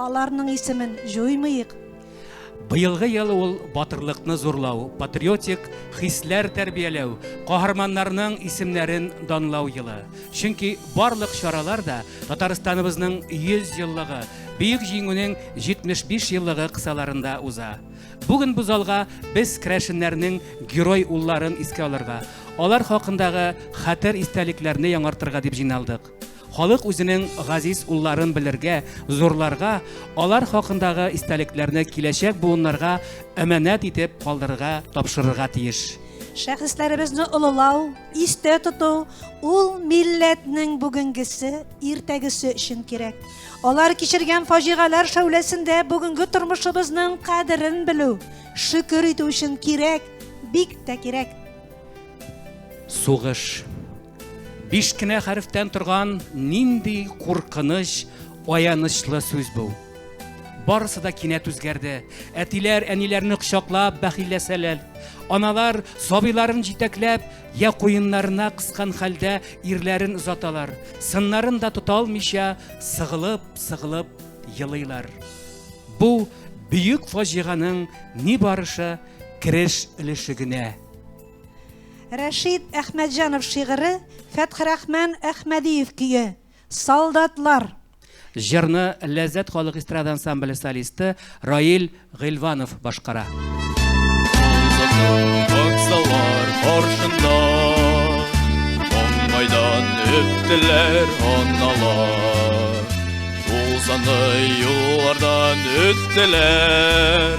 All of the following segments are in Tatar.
Аларның исемен җуймыйк. Быелгы ел ул батырлыкны зурлау, патриотик хисләр тәрбияләү, каһарманнарның исемнәрен данлау елы. Чөнки барлык чаралар да Татарстаныбызның 100 еллыгы, Бөек Җиңүнең 75 еллыгы кысаларында уза. Бүген бу залга без керәшеннәрнең герой улларын искә алырга, алар хакындагы хәтер истәлекләрне яңартырга дип җыйналдык. Халык үзенең газиз улларын белергә, зурларга, алар хакындагы истәлекләрне киләчәк буыннарга әманәт итеп калдырырга, тапшырырга тиеш. Шәхесләребезне олылау, истә тоту, ул милләтнең бүгенгесе, иртәгесе өчен кирәк. Алар кичергән фаҗигаләр шәүләсендә бүгенге тормышыбызның кадерен белү, шөкер итү өчен кирәк, бик тә кирәк. Сугыш. Биш кенә хәрефтән торган нинди куркыныч, аянычлы сүз бу! Барысы да кинәт үзгәрде. Әтиләр, әниләрне кочаклап, бәхилләсәләр. Аналар, сабыйларын җитәкләп, я куеннарына кыскан хәлдә ирләрен озаталар, сыннарын да тота алмыйча, сыгылып, сыгылып елыйлар. Бу бөек фаҗиганың ни барышы кереш өлеше генә. Рәшит Әхмәтҗанов шигыре, Фәтхерахман Әхмәдиев көе, Солдатлар. Җырны Ләззәт халык эстрада ансамбле солисты Раил Гыйлванов башкара. Аксалар каршында Маңгайдан үттеләр аналар Тулсанлы юллардан үттеләр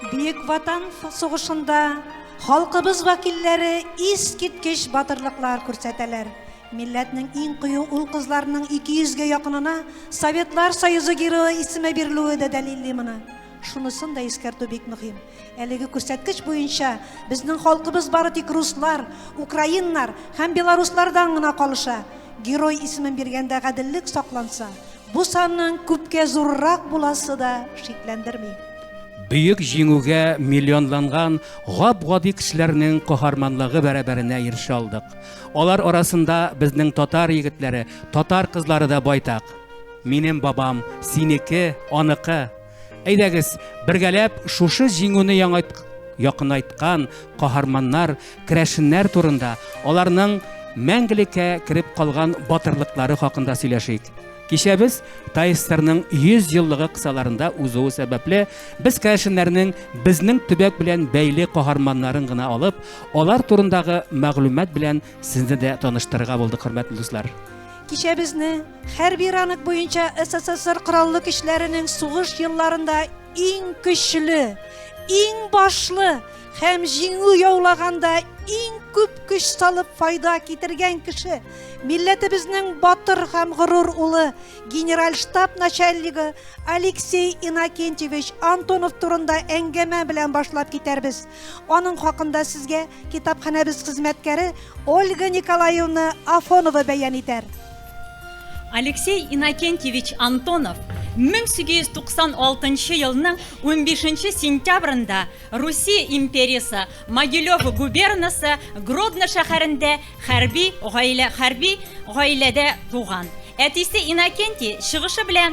Бөек Ватан сугышында халкыбыз вәкилләре искиткеч батырлыклар күрсәтәләр. Милләтнең иң кыю ул-кызларының 200 гә якынына Советлар Союзы Герое исеме бирелүе дә дәлилли моны. Шунысын да искәртү бик мөһим. Әлеге күрсәткеч буенча безнең халкыбыз бары тик руслар, украиннар һәм белоруслардан гына калыша. Герой исемен биргәндә гаделлек сакланса, Бу санның күпкә зуррак буласы да шикләндерми. Бөек җиңүгә миллионланган гап-гади кешеләрнең каһарманлыгы бәрабәренә ирешә алдык. Алар арасында безнең татар егетләре, татар кызлары да байтак. Минем бабам, синеке, аныкы, Әйдәгез, бергәләп шушы җиңүне яңайт, якынайткан каһарманнар, керәшеннәр турында, аларның мәңгелеккә кереп калган батырлыклары хакында сөйләшик. Кичәбез Тайстерның 100 еллыгы кысаларында узуы сәбәпле, без керәшеннәрнең безнең төбәк белән бәйле каһарманнарын гына алып, алар турындагы мәгълүмат белән сезне дә таныштырырга булдык, хөрмәтле дуслар. Кичәбезне хәрби ранг буенча СССР Кораллы көчләренең сугыш елларында иң көчле, иң башлы һәм җиңү яулаганда иң күп көч салып файда китергән кеше, милләтебезнең батыр һәм горур улы, генераль штаб начальнигы Алексей Иннокентьевич Антонов турында әңгәмә белән башлап китәрбез. Аның хакында сезгә китапханәбез хезмәткәре Ольга Николаевна Афонова бәян итәр. Алексей Иннокентьевич Антонов 1896 елның 15 сентябрында Русия империясы Могилев губернасы Гродно шәһәрендә хәрби гаилә хәрби гаиләдә туган. Әтисе Иннокентий чыгышы белән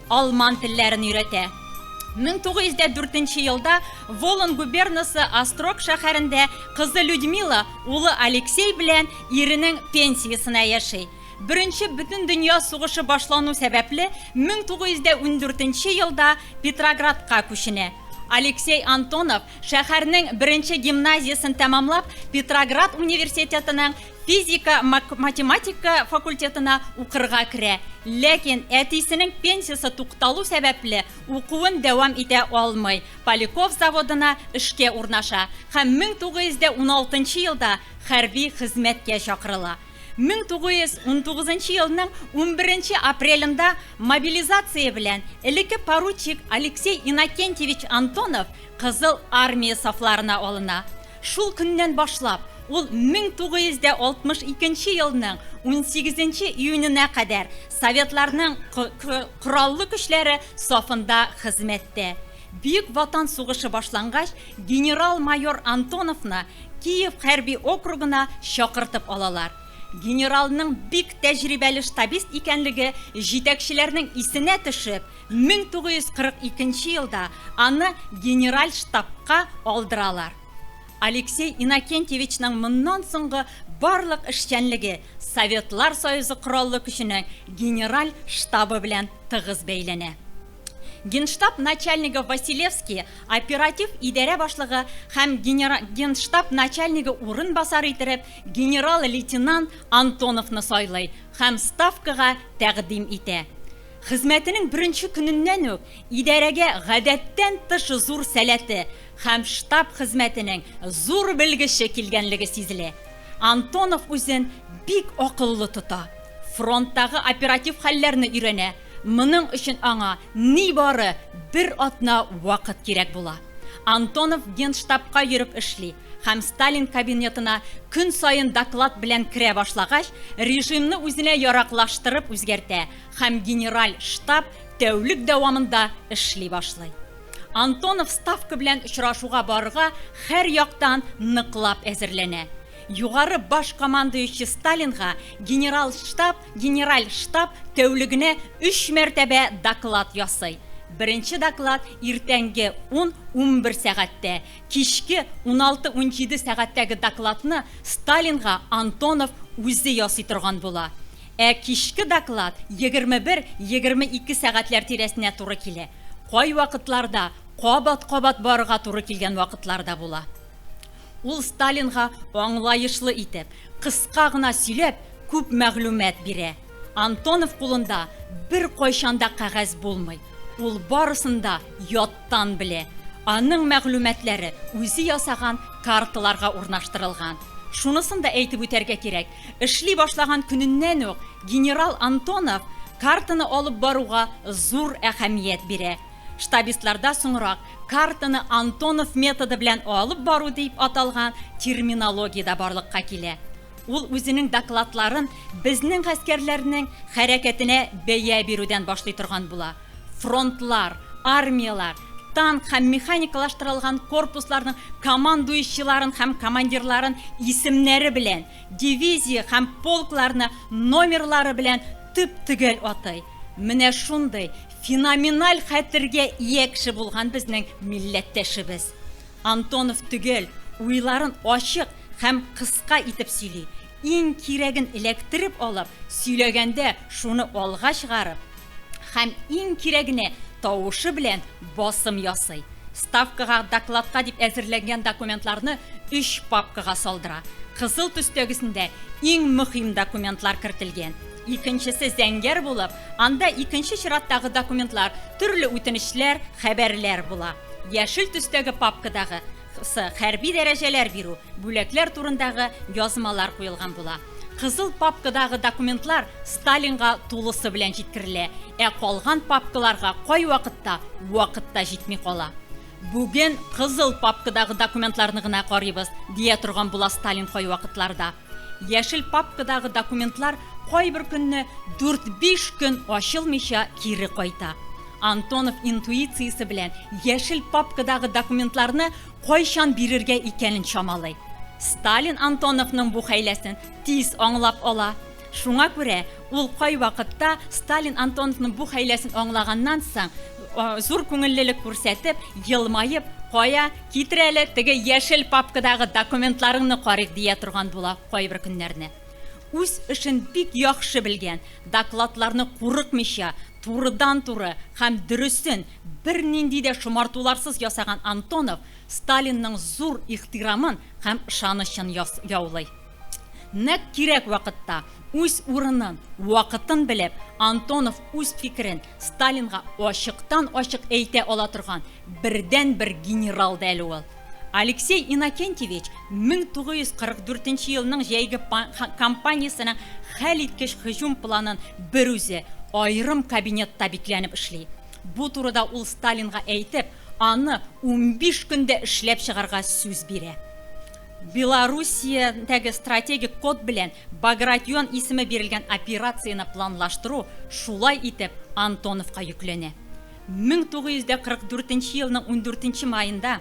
Алман телләрен өйрәтә. Мең тугыз йөз дә дүртенче елда Волын губернасы Острог шәһәрендә кызы Людмила улы Алексей белән иренең пенсиясенә яши. Беренче бөтендөнья сугышы башлану сәбәпле, мең тугыз йөз дә ундүртенче елда Петроградка күченә. Алексей Антонов, шәһәрнең беренче гимназиясен тәмамлап, Петроград университетының Физика, математика факультетына укырга керә, ләкин әтисенең пенсиясе тукталу сәбәпле, укуын дәвам итә алмый, Поляков заводына эшкә урнаша һәм 1916 елда хәрби хезмәткә чакырыла. 1919 елның 11 апрелендә мобилизация белән элекке поручик Алексей Иннокентьевич Антонов Кызыл Армия сафларына алына. Шул көннән башлап, ул 1962 нче елның 18 нче июненә кадәр Советларның Кораллы көчләре сафында хезмәттә. Бөек Ватан сугышы башлангач, генерал-майор Антоновны Киев хәрби округына чакыртып алалар. Генералның бик тәҗрибәле штабист икәнлеге җитәкчеләрнең исенә төшеп, 1942 нче елда аны генераль штабка алдыралар. Алексей Иннокентьевичның моннан соңгы барлык эшчәнлеге Советлар Союзы Кораллы Көченең генераль штабы белән тыгыз бәйләнә. Генштаб начальнигы Василевский, оператив идарә башлыгы һәм генштаб начальнигы урынбасары иттереп генерал-лейтенант Антоновны сайлый һәм Ставкага тәкъдим итә. Хезмәтенең беренче көненнән үк идарәгә гадәттән тыш зур сәләте һәм штаб хезмәтенең зур белгече килгәнлеге сизелә. Антонов үзен бик акыллы тота, фронттагы оператив хәлләрне өйрәнә, моның өчен аңа нибары бер атна вакыт кирәк була. Антонов Генштабка йөреп эшли һәм Сталин кабинетына көн саен доклад белән керә башлагач, режимны үзенә яраклаштырып үзгәртә, Һәм генераль штаб тәүлек дәвамында эшли башлый. Антонов Ставка белән очрашуга барырга һәр яктан ныклап әзерләнә. Югары баш командующий Сталинга генерал штаб, генераль штаб тәүлегенә өч мәртәбә доклад ясый. Беренче доклад иртәнге ун-унбер сәгатьтә, Кичке уналты-унҗиде сәгатьтәге докладны Сталинга Антонов үзе ясый торган була. Ә кичке доклад егерме бер-егерме ике сәгатьләр тирәсенә туры килә. Кайвакытларда кабат-кабат барырга туры килгән вакытлар да була. Ул Сталинга аңлаешлы итеп, кыска гына сөйләп, күп мәгълүмат бирә. Антонов кулында беркайчан да кәгазь булмый. Ул барысын да яттан белә. Аның мәгълүматлары үзе ясаган карталарга урнаштырылган. Шунысын да әйтеп үтәргә кирәк, эшли башлаган көненнән үк генерал Антонов картаны алып баруга зур әһәмият бирә. Штабистларда соңрак картаны Антонов методы белән алып бару дип аталган терминология дә барлыкка килә. Ул үзенең докладларын безнең гаскәрләрнең хәрәкәтенә бәя бирүдән башлый торган була. Фронтлар, армияләр, танк һәм механикалаштырылган корпусларның командующийларын һәм командирларын исемнәре белән, дивизия һәм полкларны номерлары белән төп-төгәл атый. Менә шундый феноменаль хәтергә ия кеше булган безнең милләттәшебез. Антонов төгәл, уйларын ачык һәм кыска итеп сөйли. Иң кирәген эләктереп алып, сөйләгәндә шуны алга чыгарып һәм иң кирәгенә тавышы белән басым ясый. Ставкага, докладка дип әзерләнгән документларны өч папкага салдыра. Кызыл төстәгесендә иң мөхим документлар кертелгән. Икенчесе зәңгәр булып, Анда икенче чираттагы документлар, төрле үтенечләр, хәбәрләр була. Яшел төстәге папкадагы сы, хәрби дәрәҗәләр бирү, бүләкләр турындагы язмалар куелган була. Кызыл папкадагы документлар Сталинга тулысы белән җиткерелә, ә калган папкаларга кайвакытта вакыт та җитми кала. Бүген кызыл папкадагы документларны гына карыйбыз, дия торган була Сталин кайвакытларда. Яшел папкадагы документлар кайбер көнне дүрт-биш көн ачылмыйча кире кайта. Антонов интуициясе белән яшел папкадагы документларны кайчан бирергә икәнен чамалый. Сталин Антоновның бу хәйләсен тиз аңлап ала. Шуңа күрә Ул кайвакытта Сталин Антоновның бу хәйләсен аңлаганнан соң, зур күңеллелек күрсәтеп, елмаеп, Кая, китер әле, теге яшел папкадагы документларыңны карыйк, дия торган була кайбер көннәрне. Үз эшен бик яхшы белгән, докладларны курыкмыйча, турыдан-туры һәм дөресен, бернинди дә шомартуларсыз ясаган Антонов Сталинның зур ихтирамын һәм ышанычын яулый. Нәкъ кирәк вакытта, үз урынын, вакытын белеп, Антонов үз фикерен Сталинга ачыктан-ачык әйтә ала торган бердәнбер генерал да әле ул. Алексей Иннокентьевич 1944 елның җәйге кампаниясенең хәлиткеч һөҗүм планын берүзе аерым кабинетта бикләнеп эшли. Бу турыда ул Сталинга әйтеп, аны унбиш көндә эшләп чыгарга сүз бирә. Белоруссиядәге стратегик код белән Багратион исеме бирелгән операцияне планлаштыру, шулай итеп, Антоновка йөкләнә. 1944 нче елның ундүртенче маенда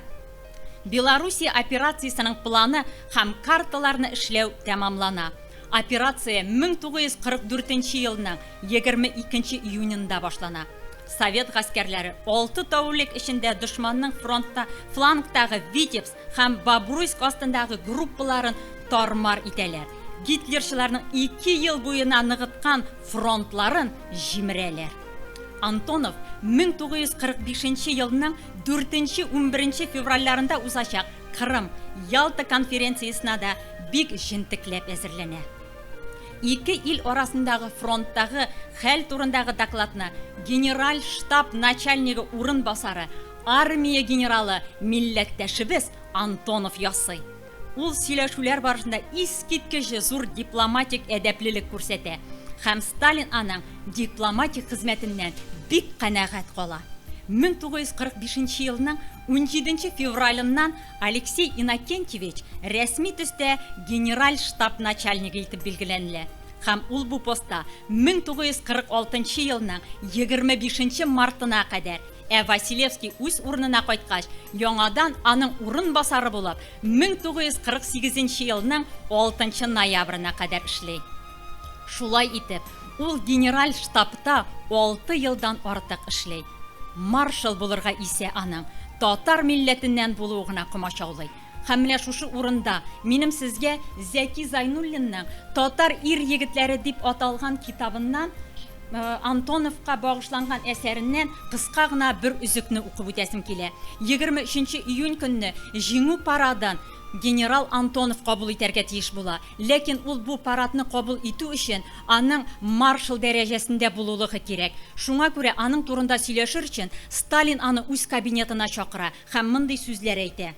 Белоруссия операциясенең планы һәм карталарны эшләү тәмамлана. Операция 1944 нче елның егерме икенче июненда башлана. Совет гаскәрләре алты тәүлек эчендә дошманның фронтта флангтагы Витебск, Һәм Бобруйск астындагы группаларын тар-мар итәләр. Гитлерчыларның ике ел буена ныгыткан фронтларын җимерәләр. Антонов 1945 нче елның дүртенче, унберенче февральләрендә узачак Кырым, Ялта конференциясенә дә бик җентекләп әзерләнә. Ике ил арасындагы фронттагы хәл турындагы докладны генераль штаб начальнигы урынбасары Армия генералы милләттәшебез Антонов ясый. Ул сөйләшүләр барышында искиткеч зур дипломатик әдәплелек күрсәтә һәм Сталин аның дипломатик хезмәтеннән бик канәгать кала. 1945 елның 17 февралыннан Алексей Иннокентьевич рәсми төстә генераль штаб начальнигы итеп билгеләнелә һәм ул бу постта 1946 елның 25 мартына кадәр Ә Василевский үз урынына кайткач, яңадан аның урынбасары булып 1948 нче елның 6 нчы ноябрена кадәр эшли. Шулай итеп, ул генераль штабта алты елдан артык эшли. Маршал булырга исә аның татар милләтеннән булуы гына комачаулый. Һәм менә шушы урында минем сезгә Зәки Зайнуллинның Татар ир-егетләре дип аталган китабыннан Антоновка багышланган әсәреннән кыска гына бер өзекне укып үтәсем килә. Егерме өченче июнь көнне Җиңү парадын генерал Антонов кабул итәргә тиеш була. Ләкин ул бу парадны кабул итү өчен аның маршал дәрәҗәсендә булулыгы кирәк. Шуңа күрә аның турында сөйләшер өчен Сталин аны үз кабинетына чакыра. Һәм мондый сүзләр әйтә.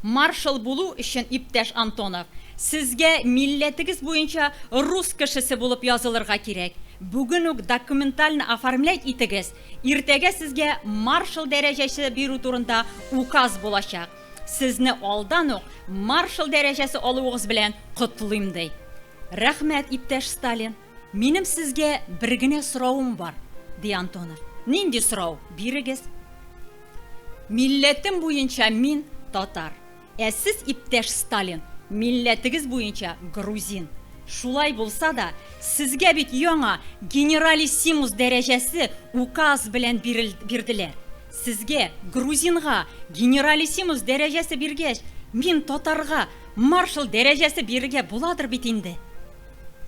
Маршал булу өчен, иптәш Антонов, сезгә милләтегез буенча рус кешесе булып язылырга кирәк. Бүген үк документально оформлять итегез, иртәгә сезгә маршал дәрәҗәсе бирү турында указ булачак. Сезне алдан ук маршал дәрәҗәсе алуыгыз белән котлыйм, ди. Рәхмәт, иптәш Сталин! Минем сезгә бер генә соравым бар, ди Антонов. Нинди сорау? Бирегез. Милләтем буенча мин татар. Ә сез, иптәш Сталин, милләтегез буенча грузин. Шулай булса да, сезгә бит яңа генералиссимус дәрәҗәсе указ белән бирделәр. Сезгә, грузинга, генералиссимус дәрәҗәсе биргәч, мин, татарга, маршал дәрәҗәсе бирергә буладыр бит инде?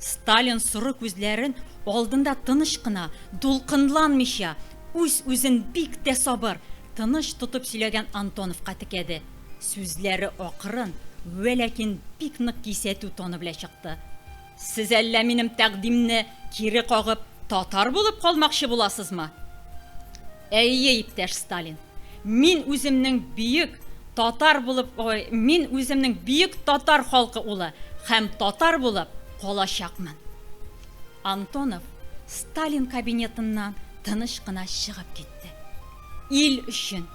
Сталин соры күзләрен алдында тыныч кына, дулкынланмыйча, үз-үзен бик тә сабыр, тыныч тотып сөйләгән Антоновка текәде. Сүзләре акрын, вә ләкин бик нык кисәтү тоны белә чыкты. Сез әллә минем тәкъдимне кире кагып, татар булып калмакчы буласызмы? Әйе, иптәш Сталин, мин үземнең бөек татар булып, ой, мин үземнең бөек татар халкы улы һәм татар булып калачакмын. Антонов Сталин кабинетыннан тыныч кына чыгып китте. Ил өчен,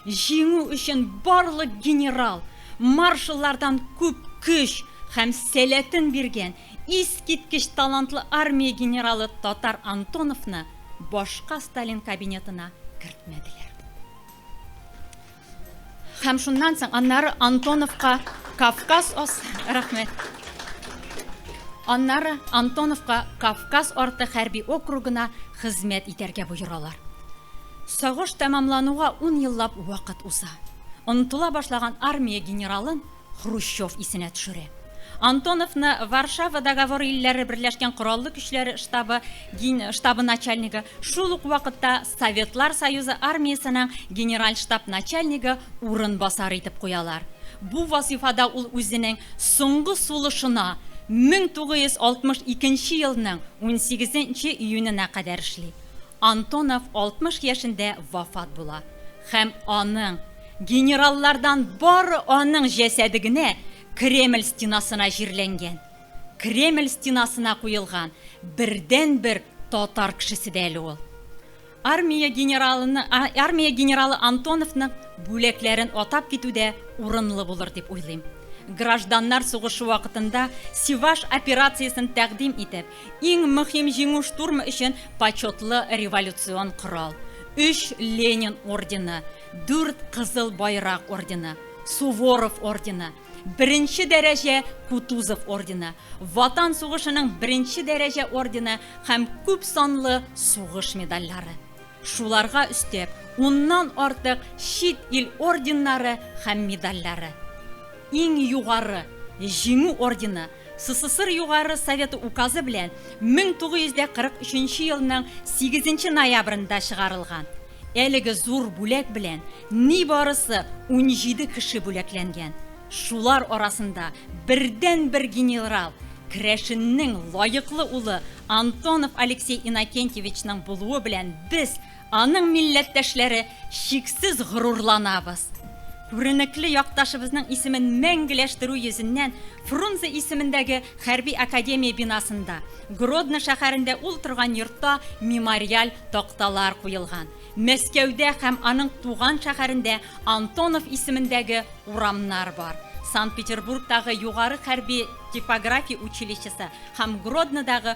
җиңү өчен барлык генерал, маршаллардан күп көч һәм сәләтен биргән Искиткеч талантлы армия генералы Татар Антоновны башка Сталин кабинетына кертмәделәр. Һәм шуннан соң аннары Антоновка Кавказ ас рәхмәт. Аннары Антоновка Кавказ арты хәрби округына хезмәт итәргә боералар. Сагыш тәмамлануга ун еллап вакыт уза. Онтыла башлаган армия генералын Хрущев исенә төшерә. Антоновны Варшава договоры илләре берләшкән кораллы көчләр штабы ген штабы начальнигы, шул ук вакытта Советлар Союзы армиясенең генераль штаб начальнигы урынбасары итеп куялар. Бу вазыйфада ул үзенең соңгы сулышына, 1962 нче елның 18 нче июненә кадәр эшли. Антонов 60 яшендә вафат була һәм аның. Генераллардан бары аның җәсәде генә Кремль стенасына җирләнгән. Кремль стенасына куелган бердәнбер татар кешесе дә әле ул. Армия генералының, армия генералы Антоновның бүләкләрен атап китү дә урынлы булыр дип уйлыйм. Гражданнар сугышы вакытында Севаш операциясен тәкъдим итеп, иң мөһим җиңү штурмы өчен почетлы революцион корал, өч Ленин ордены, Дүрт Кызыл Байрак ордены, Суворов ордены, беренче дәрәҗә Кутузов ордены, Ватан сугышының беренче дәрәҗә ордены һәм күп санлы сугыш медальләре. Шуларга өстәп, уннан артык чит ил орденнары һәм медальләре. Иң югары Җиңү ордены СССР Югары Советы Указы белән 1943 нче елның 8 нче ноябрендә чыгарылган. Әлеге зур бүләк белән нибарысы унҗиде кеше бүләкләнгән. Шулар арасында бердәнбер генерал, керәшеннең лаеклы улы Антонов Алексей Иннокентьевичның булуы белән без, Аның милләттәшләре чиксез горурланабыз. Күренекле якташыбызның исемен мәңгеләштерү йөзеннән Фрунзе исемендәге хәрби академия бинасында, Гродно шәһәрендә ул торган йортта мемориаль такталар куелган. Мәскәүдә һәм аның туган шәһәрендә Антонов исемендәге урамнар бар. Санкт-Петербургтагы югары хәрби типография училищесы һәм Гроднодагы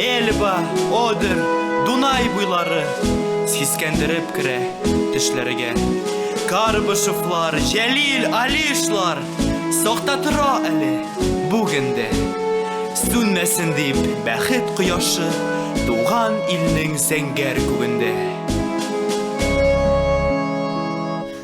Эльба, Одер, Дунай буйлары Сискәндереп керә төшләргә Карбышевлар, Җәлил, Алишлар Сакта тора әле бүгендә Сүнмәсен дип бәхет кояшы Туган илнең зәңгәр күгендә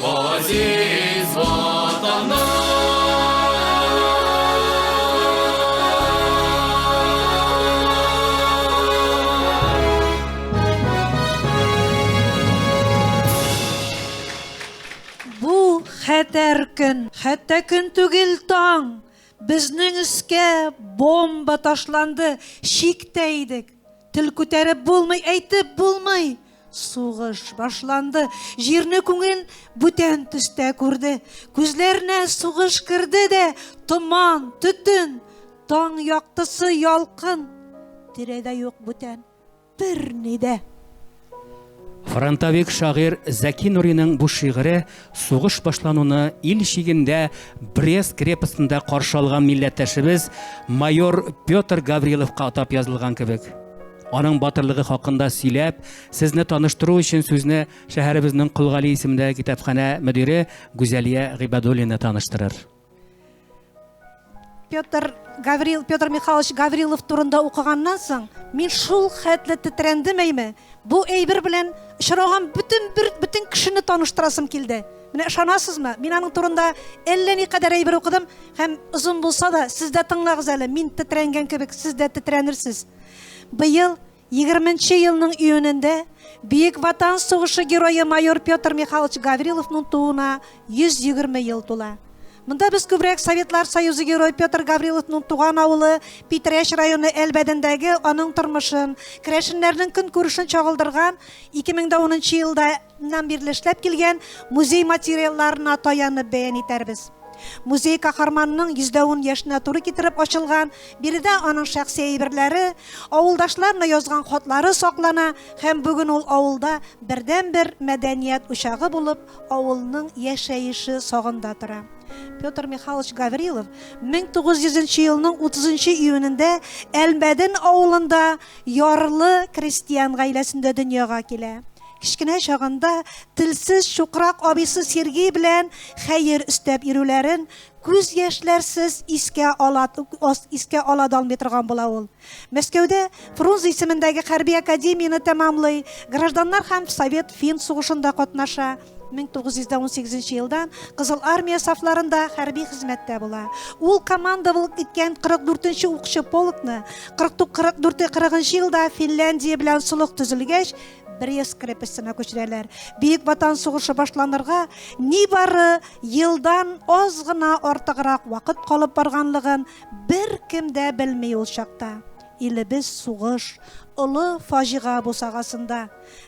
Газиз Бу хәтәр көн, хәтта көн түгел, таң. Безнең өскә бомба ташланды, чиктә идек. Тел күтәреп булмый, әйтеп булмый. Сугыш башланды. Җирне күңел бүтән төстә күрде. Күзләренә сугыш керде дә, томан, төтен, таң яктысы, ялкын. Тирәдә юк бүтән берни дә. Фронтовик шагыйрь Зәки Нуриның бу шигыре Сугыш башлануны ил чигендә Брест крепостында каршы алган милләттәшебез майор Петр Гавриловка атап язылган кебек. Аның батырлыгы хакында сөйләп, сезне таныштыру өчен сүзне шәһәребезнең Колгали исемендәге китапханә мөдире Гүзәлия Гыйбадуллина таныштырыр. Петр Гаврил Петр Михайлович Гаврилов турында укыганнан соң, мин шул хәтле тетрәндем әйме. Бу әйбер белән очраган бөтен бөтен кешене таныштырасым килде. Менә ышанасызмы? Мин аның турында әллә ни кадәр әйбер укыдым һәм озын булса да, сез дә тыңлагыз әле. Мин тетрәнгән кебек, сез дә тетрәнерсез. Быел Егерменче елның июнендә Бөек Ватан сугышы герое майор Петр Михайлович Гавриловның тууына 120 ел тула. Монда без күбрәк Советлар Союзы герой Петр Гавриловның туган авылы Питрәч районы Әлбәдендәге аның тормышын, керәшеннәрнең көнкүрешен чагылдырган 2010 елда Ннан бирле эшләп килгән музей материалларына таянып бәян итәрбез. Музей каһарманның 110 яшенә туры китереп ачылган, биредә аның шәхси әйберләре, авылдашларына язган хатлары саклана һәм бүген ул авылда бердәнбер мәдәният учагы булып, авылның яшәеше сагында тора. Петр Михайлович Гаврилов 1900 елның 30 июнендә Әлмәден авылында ярлы крестьян гаиләсендә дөньяга килә. Кечкенә чагында телсез чукрак абыйсы Сергей белән хәер өстәп йөрүләрен күз яшьләрсез искә ала искә ала да алмый торган була ул. Мәскәүдә Фрунзе исемендәге хәрби академияне тәмамлый, гражданнар һәм Совет фин сугышында катнаша, 1918 елдан Кызыл Армия сафларында хәрби хезмәттә була. Ул командовалык иткән 44 нче укчы полкны 44-40 елда Финляндия белән солых төзелгәч, Брест крепостена күчерәләр. Бөек Ватан сугышы башланырга нибары елдан аз гына артыграк вакыт калып барганлыгын беркем дә белми ул чакта. Илебез сугыш, олы фаҗига бусагасында.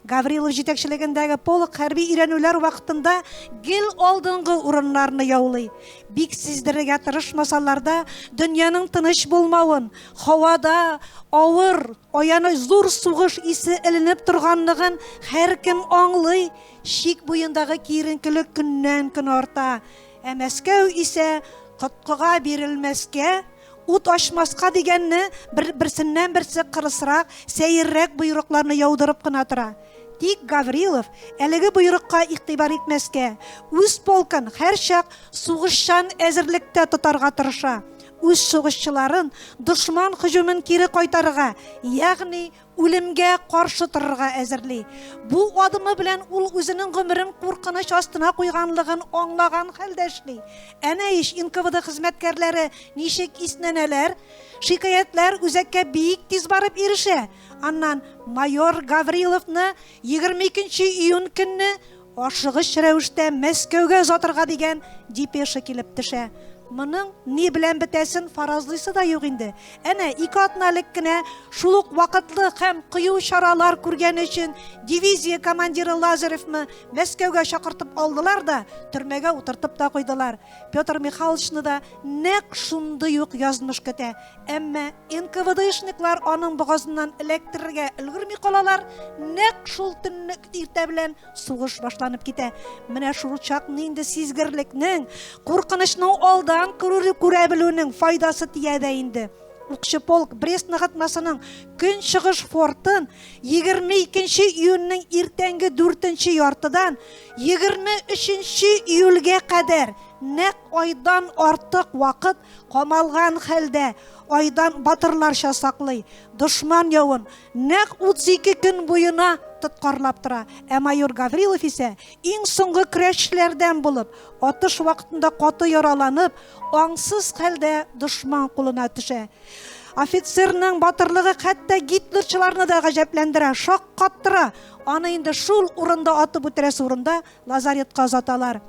Гаврилов җитәкчелегендәге полк хәрби өйрәнүләр вакытында гел алдынгы урыннарны яулый. Бик сиздерергә тырышмасалар да, дөньяның тыныч булмавын, һавада авыр Аяныч зур сугыш исе эленеп торганлыгын һәркем аңлый, чик буендагы киеренкелек көннән-көн арта. Ә Мәскәү исә коткыга бирелмәскә, ут ачмаска дигәнне, берсеннән-берсе кырысрак, сәеррәк боерыкларны яудырып кына тора. Тик Гаврилов әлеге боерыкка игътибар итмәскә, үз полкын һәрчак сугышчан әзерлектә тотарга тырыша. үз сугышчыларын дошман һөҗүмен кире кайтарырга, ягъни үлемгә каршы торырга әзерли. Бу адымы белән ул үзенең гомерен куркыныч астына куйганлыгын аңлаган хәлдә эшли. Әнә ич НКВД хезмәткәрләре ничек иснәнәләр, шикаятьләр үзәккә бик тиз барып ирешә. Аннан майор Гавриловны 22 нче июнь көнне Ашыгыч рәвештә Мәскәүгә озатырга дигән депеша килеп төшә. Моның ни белән бетәсен фаразлыйсы да юк инде. Әнә, ике атна элек кенә шул ук вакытлы һәм кыю чаралар күргәне өчен дивизия командиры Лазаревны Мәскәүгә чакыртып алдылар да, төрмәгә утыртып та куйдылар. Петр Михайловичны да нәкъ шундый ук язмыш көтә. Әмма НКВДшниклар аның богазыннан эләктерергә өлгерми калалар, нәкъ шул төнне иртә белән сугыш башланып китә. Менә шул чак нинди сизгерлекнең, куркынычның алдан күрә белүнең файдасы тия дә инде. Укчы полк Брест ныгытмасының көнчыгыш фортын 22 нче июньнең иртәнге дүртенче яртыдан 23 нче июльгә кадәр нәкъ айдан артык вакыт Камалган хәлдә айдан батырларча саклый. Дошман явын нәкъ 32 көн буена тоткарлап тора. Ә майор Гаврилов исә, иң соңгы көрәшчеләрдән булып, атыш вакытында каты яраланып, аңсыз хәлдә дошман кулына төшә. Офицерның батырлыгы хәтта гитлерчыларны да гаҗәпләндерә, шаккаттыра. Аны инде шул урында атып үтерәсе урында Лазаретка озаталар.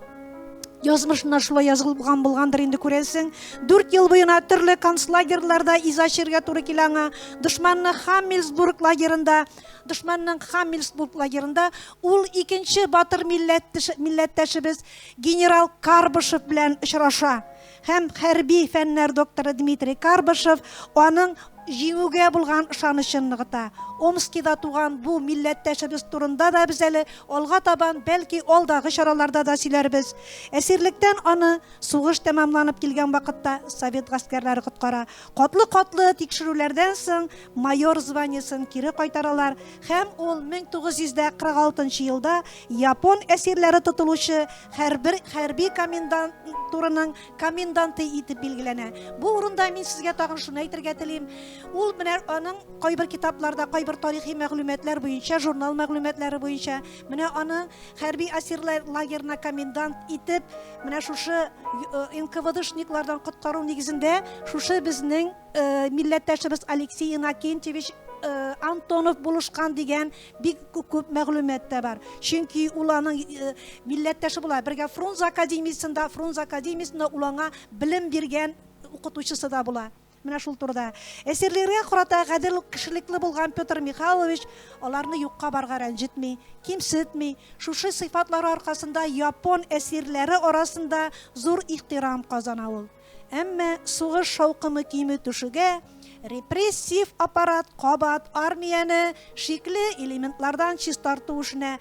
Язмышына шулай язылган булгандыр инде күрәсең. Дүрт ел буена төрле концлагерларда иза чергә туры килә аңа. Дошманның Хаммельсбург лагерында, дошманның Хаммельсбург лагерында ул икенче батыр милләттәшебез генерал Карбышев белән очраша. һәм хәрби фәннәр докторы Дмитрий Карбышев аның җиңүгә булган ышанычын ныгыта. Омскида туган бу милләттәшебез турында да без әле алга табан, бәлки, алдагы чараларда да сөйләрбез. Әсирлектән аны сугыш тәмамланып килгән вакытта совет гаскәрләре коткара. Катлы-катлы тикшерүләрдән соң майор званиесен кире кайтаралар һәм ул 1946 елда Япон әсирләре тотылучы хәрбер хәрби комендантураның коменданты итеп билгеләнә. Бу урында мин сезгә тагын шуны әйтергә телим. Ул менә аның кайбер китапларда, кайбер тарихи мәгълүматлар буенча, журнал мәгълүматлары буенча, менә аны хәрби әсирләр лагерына комендант итеп, менә шушы э, НКВДшниклардан коткару нигезендә шушы безнең э, милләттәшебез Алексей Иннокентьевич э, Антонов булышкан дигән Бик күп мәгълүмат та бар. Чөнки ул аның э, милләттәше була. Бергә Фрунзе академиясендә, Фрунзе академиясендә ул аңа белем биргән укытучысы да була. Менә шул турыда. Әсирләргә карата гадел кешелекле булган Петр Михайлович аларны юкка барга рәнҗетми, кимсетми. Шушы сыйфатлары аркасында япон әсирләре арасында зур ихтирам казана ул. Әмма сугыш шаукымы кими төшүгә, репрессив аппарат кабат армияне шикле элементлардан чистарту эшенә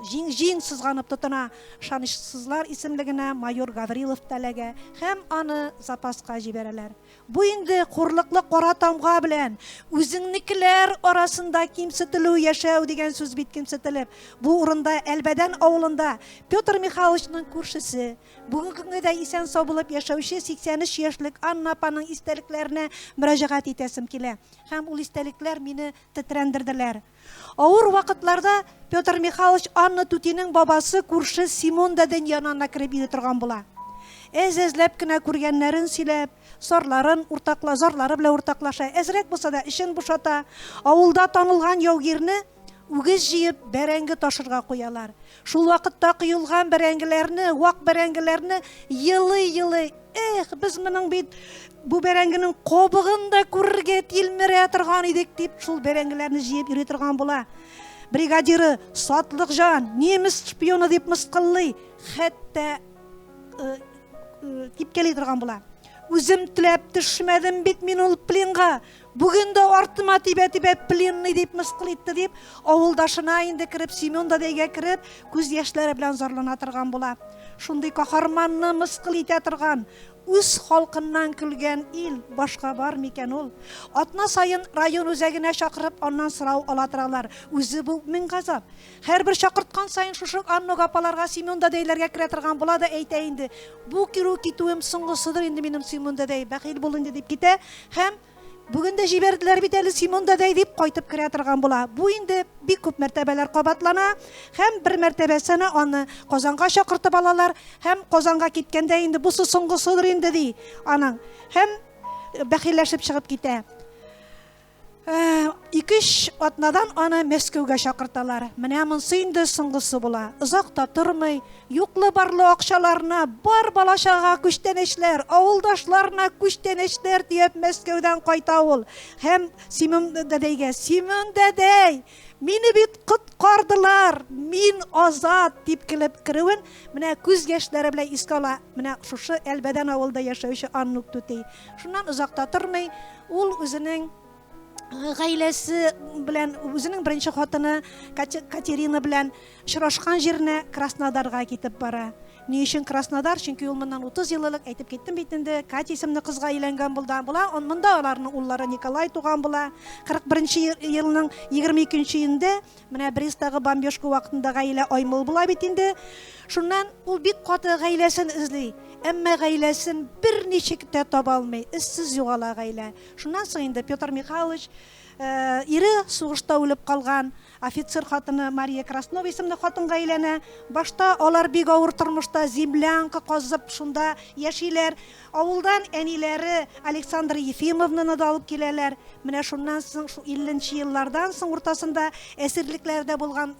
җиң-җиң сызганып тотына. Ышанычсызлар исемлегенә майор Гаврилов та эләгә һәм аны запаска җибәрәләр. Бу инде хурлыклы кара тамга белән үзеңнекеләр арасында кимсетелү яшәү дигән сүз бит, кимсетелеп. Бу урында Әлбәдән авылында Петр Михайловичның күршесе, Бүгенге көнгә дә исән-сау булып яшәүче 83 яшьлек Анна апаның истәлекләренә мөрәҗәгать итәсем килә. Һәм ул истәлекләр мине тетрәндерделәр. Авыр вакытларда Петр Михайлович Анна түтинең бабасы күрше Симон дәдән янына кереп йөри торган була. Әз-әзләп кенә күргәннәрен сөйләп, сарларын уртакла, зарлары белән уртаклаша. Әзрәк булса да, эчен бушата. Авылда танылган яугирне Үгез җыеп, бәрәңге ташырга куялар. Шул вакытта коелган бәрәңгеләрне, вак бәрәңгеләрне елый-елый, эх, без моның бит бу бәрәңгенең кобыгын да күрергә тилмерә торган идек, дип шул бәрәңгеләрне җыеп йөри торган була. Бригадиры Сатлык җан, немец шпионы дип мыскыллый, хәтта э, э, типкәли торган була. Үзем теләп төшмәдем бит мин ул пленга. Бүген дә артыма тибә-тибә пленный дип мыскыл итте дип, авылдашына инде кереп, Семен да дәйгә кереп, күз яшьләре белән зарлана торган була. Шундый каһарманны мыскыл итә торган, үз халкыннан көлгән ил башка бар микән ул? Атна саен район үзәгенә чакырып, аннан сорау ала торалар. Үзе бу мең газап. Һәрбер чакырткан саен шушы Аннук апаларга Семен дәдәйләргә керә торган була да әйтә инде, бу керү китүем соңгысыдыр инде минем Семен дәдәй, бәхил бул инде дип китә һәм Бүген дә җибәрделәр бит әле Семен дәдәй дип кайтып керә торган була. Бу инде бик күп мәртәбәләр кабатлана һәм бер мәртәбәсенә аны Казанга чакыртып алалар һәм Казанга киткәндә инде бу соңгысыдыр инде ди аның һәм бәхилләшеп чыгып китә. Ике-өч атнадан аны Мәскәүгә чакырталар. Менә монсы инде соңгысы була. Озак та тормый, юклы-барлы акчаларына, бар балачага күчтәнәчләр, авылдашларына күчтәнәчләр төяп Мәскәүдән кайта ул. Һәм Симон дәдәйгә, Симон дәдәй, мине бит коткардылар, мин азат, дип килеп керүен менә күз яшьләре белән искә ала. Менә шушы Әлбәдән авылда яшәүче Аннук түти. Шуннан озак та тормый, ул үзенең э, гаиләсе белән, үзенең беренче хатыны Катерина белән очрашкан җиренә Краснодарга китеп бара. Ни өчен Краснодар? Чөнки ул моннан 30 ел элек әйтеп киттем бит инде, Катя исемле кызга өйләнгән булды. Була, он монда аларның уллары Николай туган була. 41 елның 22 июнендә Менә Бресттагы бомбежка вакытында гаилә аймыл була бит инде. Шуннан ул бик каты гаиләсен эзли. Әмма гаиләсен берничек тә таба алмый. Эзсез югала гаилә. Шуннан соң инде Петр Михайлович, ире сугышта үлеп калган, офицер хатыны Мария Краснова исемле хатынга өйләнә. Башта алар бик авыр тормышта, землянка казып, шунда яшиләр. Авылдан әниләре Александра Ефимовнаны да алып киләләр. Менә шуннан соң, шул 50 нче еллардан соң уртасында әсирлекләрдә булган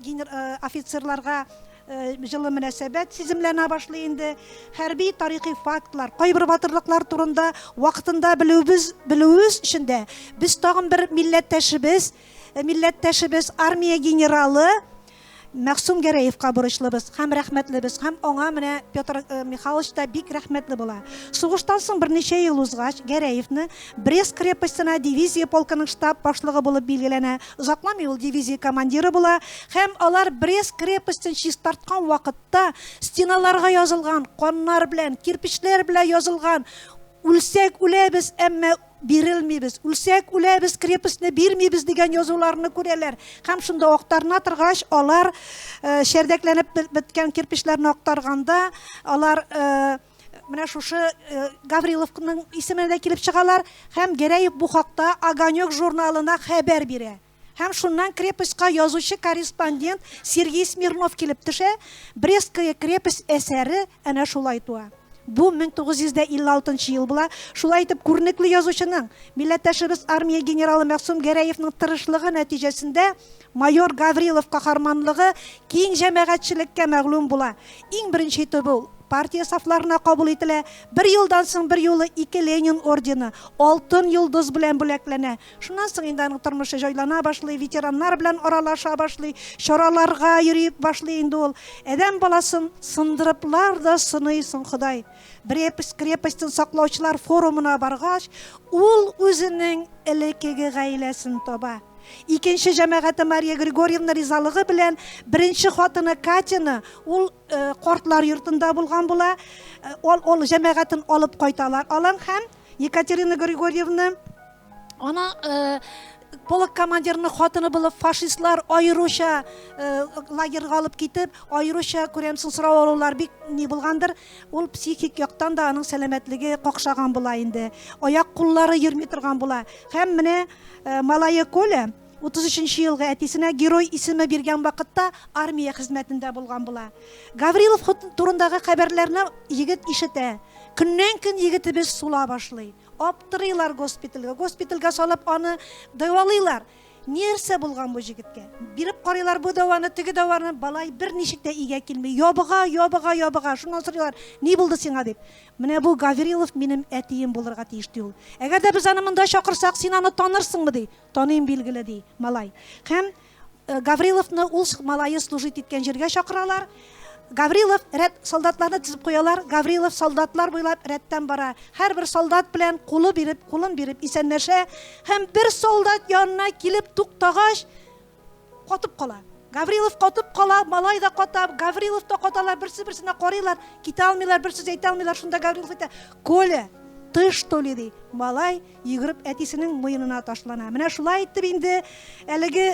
офицерларга җылы мөнәсәбәт сиземләнә башлый инде. Хәрби тарихи фактлар, кайбер батырлыклар турында вакытында белүебез белүебез өчен дә без тагын бер милләттәшебез, милләттәшебез, армия генералы Мәгъсүм Гәрәевка бурычлыбыз һәм рәхмәтлебез һәм аңа менә Петр Михайлович та бик рәхмәтле була. Сугыштан соң берничә ел узгач, Гәрәевны Брест крепостена дивизия полкының штаб башлыгы булып билгеләнә. Озакламый ул дивизия командиры була һәм алар Брест крепостен чистарткан вакытта стеналарга язылган каннар белән, кирпечләр белән язылган Үлсәк үләбез, әмма. Бирелмибез, үлсәк үләбез, крепостьне бирмибез дигән язуларны күрәләр. Һәм шунда актарына торгач, алар э, шәрдәкләнеп беткән кирпечләрне актарганда, алар э, менә шушы э, Гавриловның исеменә дә килеп чыгалар һәм Гәрәев бу хакта Огонек журналына хәбәр бирә. Һәм шуннан крепостька язучы-корреспондент Сергей Смирнов килеп төшә, Брестская крепость әсәре әнә шулай туа. Бу 1956 ел була. Шулай итеп, күренекле язучының, милләттәшебез армия генералы Мәгъсүм Гәрәевның тырышлыгы нәтиҗәсендә майор Гаврилов каһарманлыгы киң җәмәгатьчелеккә мәгълүм була. Иң беренче итеп ул партия сафларына кабул ителә. Бер елдан соң берьюлы ике Ленин ордены, Алтын йолдыз белән бүләкләнә. Шуннан соң инде аның тормышы җайлана башлый, ветераннар белән аралаша башлый, чараларга йөри башлый инде ул. Адәм баласын сындырыплар да сыный соң Ходай. Брепость крепостен саклаучылар форумына баргач, ул үзенең элекеге гаиләсен таба. Икенче җәмәгате Мария Григорьевна ризалыгы белән беренче хатыны Катяны ул картлар йортында булган була, ул җәмәгатен алып кайталар алан һәм Екатерина Григорьевна, ана э, полк командирының хатыны булып фашистлар аеруча э, лагерьга алып китеп, аеруча күрәмсең сорау алулар бик ни булгандыр. Ул психик яктан да аның сәламәтлеге какшаган була инде. Аяк куллары йөрми торган була. Һәм менә э, малае Коля 33 елгы әтисенә герой исеме биргән вакытта армия хезмәтендә булган була. Гаврилов турындагы хәбәрләрне егет ишетә. Көннән көн егетебез сула башлый. Аптырыйлар госпитальгә. Госпитальгә салып аны дәвалыйлар. Нәрсә булган бу җегеткә? Биреп карыйлар бу дәваны, теге дәваны, балай бер ничек тә игә килми. Ябыга, ябыга, ябыга. Шуннан сорыйлар, ни булды сиңа дип. Менә бу Гаврилов минем әтием булырга тиеш ди ул. Әгәр дә без аны монда чакырсак, син аны танырсыңмы ди. Таныйм, билгеле, ди малай. Һәм Гавриловны ул малае служить иткән җиргә чакыралар. Гаврилов рәт солдатларны тезеп куялар. Гаврилов солдатлар буйлап рәттән бара. Һәрбер солдат белән кулы биреп, кулын биреп исәнләшә. Һәм бер солдат янына килеп туктагач, Катып кала. Гаврилов катып кала, малай да ката, Гаврилов та каталар, берсе берсенә карыйлар, китә алмыйлар, бер сүз әйтә алмыйлар. Шунда Гаврилов әйтә, Коля, ты что ли, ди. Малай йөгереп әтисенең муенына ташлана. Менә шулай итеп инде әлеге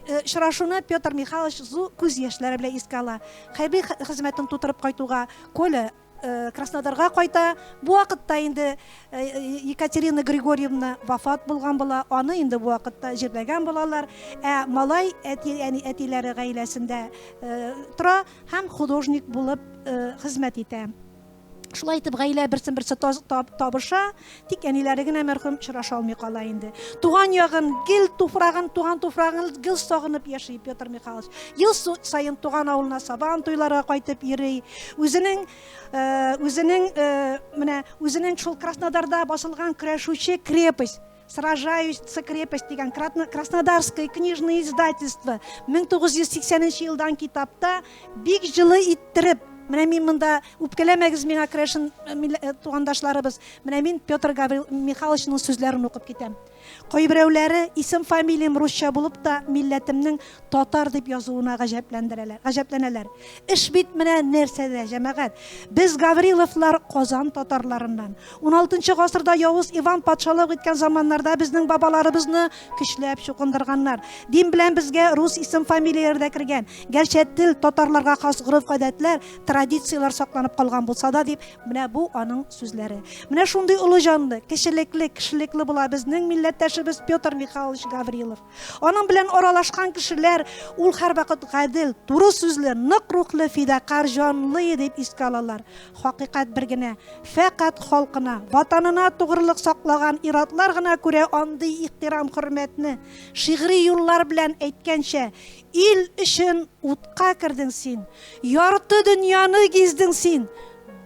э, очрашуны Петр Михайлович зу күз яшьләре белән искә ала. Хәрби хезмәтен тутырып кайтуга Коля Э, краснодарга кайта бу вакытта инде э, э, екатерина григорьевна вафат булган була аны инде бу вакытта җирләгән булалар ә малай әти әни әтиләре гаиләсендә тора һәм художник булып хезмәт итә шулай итеп гаилә берсен берсе табыша Тик әниләре генә мәрхүм очраша алмый кала инде. Туган ягын, гел туфрагын, туган туфрагын гел сагынып яши Петр Михайлович. Ел саен туган авылына сабан туйларга кайтып йөри. Үзенең э, үзенең э, менә үзенең шул Краснодарда басылган көрәшүче крепость сражающийся крепость дигән краснодарское книжное издательство 1980 елдан китапта Бик җылы иттереп, менә мин монда, үпкәләмәгез миңа, Крешин тугандашларыбыз, менә мин Петр Гаврил Михайловичның сүзләрен укып китәм. Кайберәүләре исем-фамилиям русча булып та, милләтемнең татар дип язуына гаҗәпләндерәләр, гаҗәпләнәләр. Эш бит менә нәрсәдә, җәмәгать. Без, Гавриловлар, Казан татарларыннан. Уналытынчы гасырда Явыз Иван патшалык иткән заманнарда безнең бабаларыбызны Көчләп чукындырганнар. Дин белән безгә рус исем-фамилияләре дә кергән. Гәрчә тел, татарларга хас гореф-гадәтләр, традицияләр сакланып калган булса да, дип, менә бу аның сүзләре. Менә шундый олы җанлы, кечелекле, кешелекле була безнең милләттәшебез Петр Михайлович Гаврилов. Аның белән аралашкан кешеләр ул һәрвакыт гадел, туры сүзле, нык рухлы, фидакарь җанлы дип искә алалар. Хакыйкать бер генә, фәкать халкына, Ватанына тугрылык саклаган ир-атлар гына күрә андый ихтирам-хөрмәтне, шигъри юллар белән әйткәнчә, Ил өчен утка кердең син, ярты дөньяны гиздең син,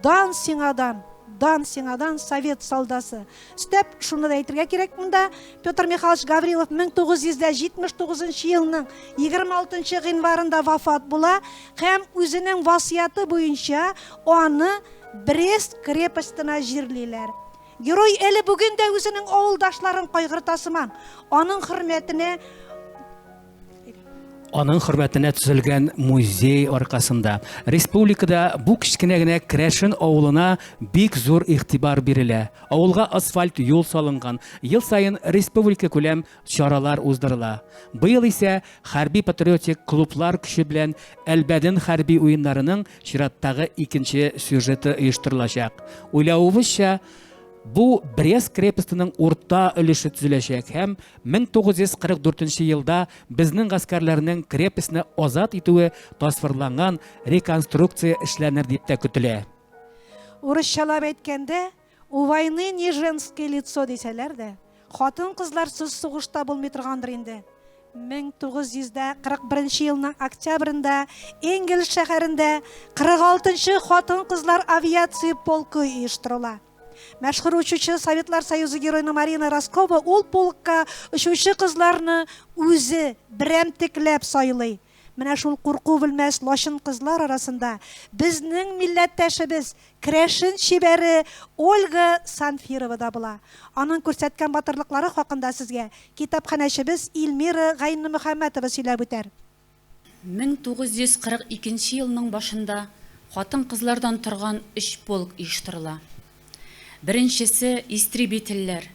Дан сиңа дан, дан сиңа дан, совет солдасы! Өстәп, шуны да әйтергә кирәк монда, Петр Михайлович Гаврилов 1979 елның 26 гыйнварында вафат була, Һәм үзенең васыяте буенча аны Брест крепостена җирлиләр. Герой әле бүген дә үзенең авылдашларын кайгырта сыман, аның хөрмәтенә Аның хөрмәтенә төзелгән музей аркасында республикада бу кечкенә генә Крәшен авылына бик зур игътибар бирелә. Авылга асфальт юл салынган. Ел саен республика күләм чаралар уздырыла. Быел исә хәрби-патриотик клублар көче белән Әлбәден хәрби уеннарының чираттагы икенче сюжеты оештырылачак. Уйлавыбызча, бу Брест крепостеның урта өлеше төзеләчәк һәм 1944 елда безнең гаскәрләрнең крепостьне азат итүе тасвирланган реконструкция эшләнер дип тә көтелә. Урысчалап әйткәндә, У войны не женское лицо дисәләр дә, хатын-кызларсыз сугыш та булмый торгандыр инде. 1941 елның октябрендә Энгельс шәһәрендә 46 нчы хатын-кызлар авиация полкы оештырыла. Мәшһүр учучы Советлар Союзы героена Марина Роскова ул полкка очучы кызларны үзе берәмтекләп сайлый. Менә шул курку белмәс лачын кызлар арасында безнең милләттәшебез, керәшен чибәре Ольга Санфирова да була. Аның күрсәткән батырлыклары хакында сезгә китапханәчебез Ильмира Гайнномөхәммәтова сөйләп үтәр. 1942 нче елның башында хатын-кызлардан торган өч полк оештырыла. Беренчесе, истребительләр,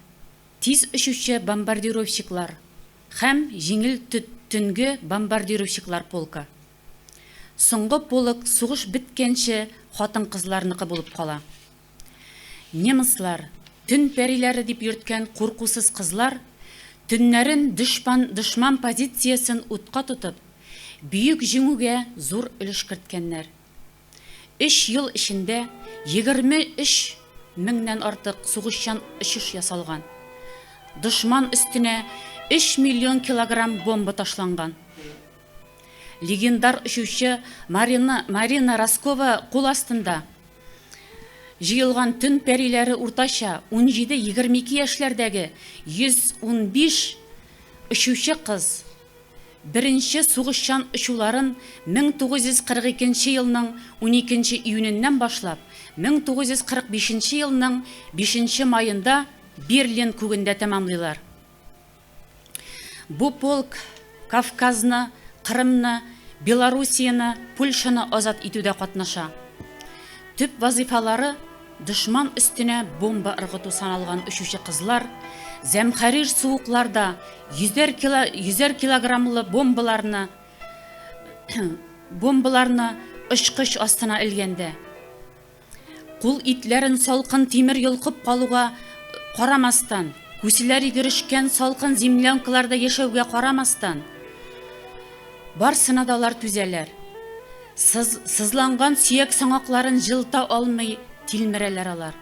тиз очучы бомбардировщиклар, Һәм җиңел төт төнге бомбардировщиклар полкы. Соңгы полк сугыш беткәнче хатын-кызларныкы булып кала. Немецлар, төн пәриләре дип йөрткән куркусыз кызлар, төннәрен дошпан дошман позициясен утка тотып, Бөек Җиңүгә зур өлеш керткәннәр. Өч ел эчендә егерме өч меңнән артык сугышчан очыш ясалган. Дошман өстенә өч миллион килограмм бомба ташланган. Легендар очучы Марина Марина Роскова кул астында җыелган төн пәриләре уртача унҗиде-егерме ике яшьләрдәге йөз унбиш очучы кыз Беренче сугышчан очуларын 1942 елның уникенче июненнән башлап 1945 елның бишенче маенда Берлин күгендә тәмамлыйлар. Бу полк Кавказны, Кырымны, Белоруссияне, Польшаны азат итүдә катнаша. Төп вазыйфалары, Дошман өстенә бомба ыргыту саналган очучы кызлар зәмхәрир суыкларда йөзәр кило, йөзәр килограммлы бомбаларны бомбаларны очкыч астына элгәндә кул итләрен салкын тимер йолкып калуга карамастан, күселәр йөгерешкән салкын землянкаларда яшәүгә карамастан, барсына да алар түзәләр. Сыз, сызланган сөяк саңакларын җылыта алмый тилмерәләр алар.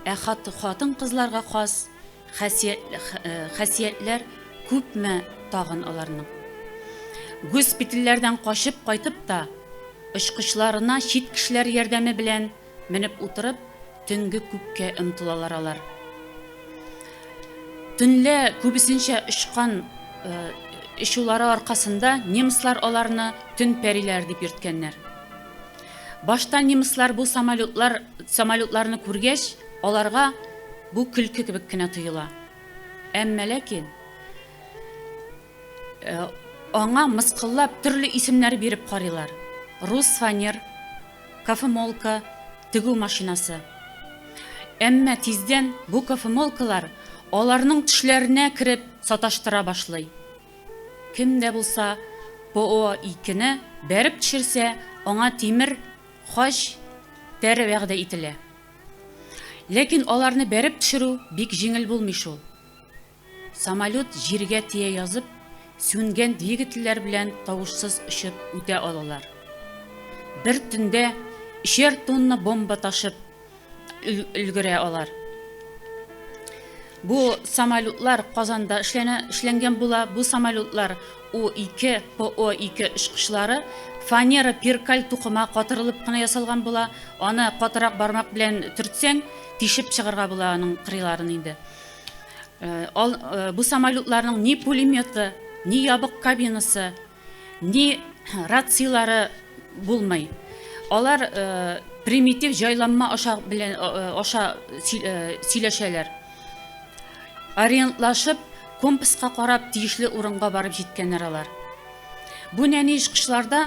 Ә хат, хатын-кызларга хас хәсият, э, хәсиятләр күпме тагын аларның. Госпитальләрдән качып кайтып та, очкычларына чит кешеләр ярдәме белән Менеп утырып, төнге күккә омтылалар алар. Төнлә күбесенчә очкан очулары аркасында немецлар аларны төн пәриләре дип йөрткәннәр. Башта немецлар бу самолетлар, самолетларны күргәч, аларга бу көлке кебек кенә тоела. Әмма ләкин аңа мыскыллап төрле исемнәр биреп карыйлар. Рус фанер, кофемолка, тегү машинасы. Әмма тиздән бу кофемолкалар аларның төшләренә кереп саташтыра башлый. Кем дә булса ПО-2-не бәреп төшерсә, аңа тимер хач, тәре вәгъдә ителә. Ләкин аларны бәреп төшерү бик җиңел булмый шул. Самолет җиргә тия язып, сүнгән двигательләр белән тавышсыз очып үтә алалар. Бер төндә өчәр тонна бомба ташып өлгерә алар. Бу самолетлар Казанда эшләнә, эшләнгән була. Бу самолетлар У-2, ПО-2 очкычлары фанера перкаль тукыма катырылып кына ясалган була. Аны катырак бармак белән төртсәң, тишеп чыгарга була аның кырыйларын инде. Ал, э, бу самолетларның ни пулеметы, ни ябык кабинасы, ни рацияләре булмый. Алар э, примитив җайланма аша белән э, аша сөйләшәләр. Ориентлашып, компаска карап, тиешле урынга барып җиткәннәр алар. Бу нәни очкычларда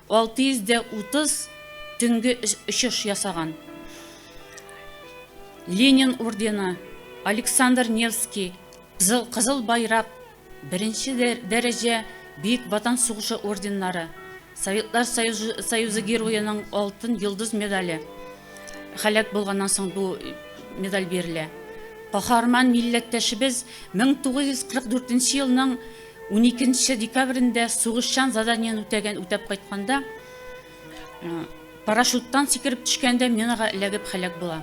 630 төнге очыш ясаган. Ленин ордены, Александр Невский, Кызыл байрак, беренче дәрәҗә Бөек Ватан сугышы орденнары, Советлар Союзы Героеның алтын йолдыз медале, һәлак булганнан соң бу медаль бирелә. Каһарман милләттәшебез 1944 елның Уникенче декабрендә сугышчан заданиен үтәгән үтәп кайтканда, парашюттан сикереп төшкәндә минага эләгеп һәлак була.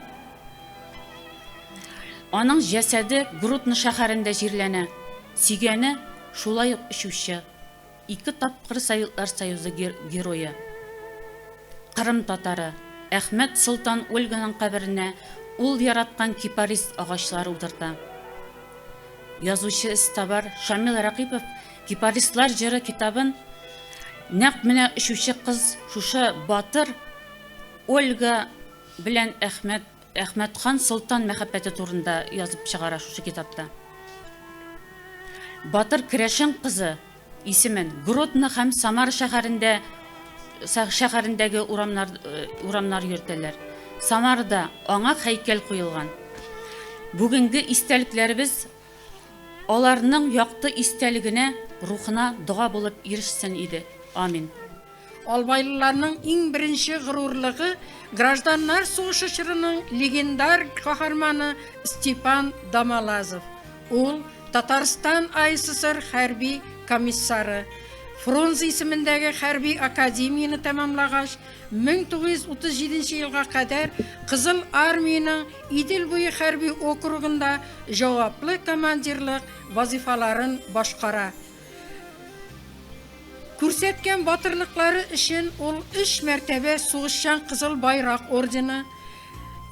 Аның җәсәде Грудно шәһәрендә җирләнә. Сөйгәне шулай ук очучы, ике тапкыр Советлар Союзы герое, Кырым татары Әхмәт Солтан Ольганың каберенә ул яраткан кипарис агачлары утырта. Язучы эзтабар Шамил Рәкыйпов Кипарислар җыры китабын нәкъ менә очучы кыз, шушы батыр Ольга белән Әхмәт, Әхмәтхан солтан мәхәббәте турында язып чыгара шушы китапта. Батыр керәшен кызы Исемен Гродно һәм Самара шәһәрендә шәһәрендәге урамнар э, урамнар йөртәләр. Самарда аңа һәйкәл куелган. Бүгенге истәлекләребез аларның якты истәлегенә, рухына дога булып ирешсен иде. Амин. Албайлыларның иң беренче горурлыгы, гражданнар сугышы чорының легендар каһарманы Степан Домолазов. Ул, Татарстан АССР хәрби комиссары. Фрунзе исемендәге хәрби академияне тәмамлагач, 1937 елга кадәр Кызыл Армиянең Идел буе хәрби округында җаваплы командирлык вазыйфаларын башкара. Күрсәткән батырлыклары өчен ул өч мәртәбә Сугышчан Кызыл Байрак ордены,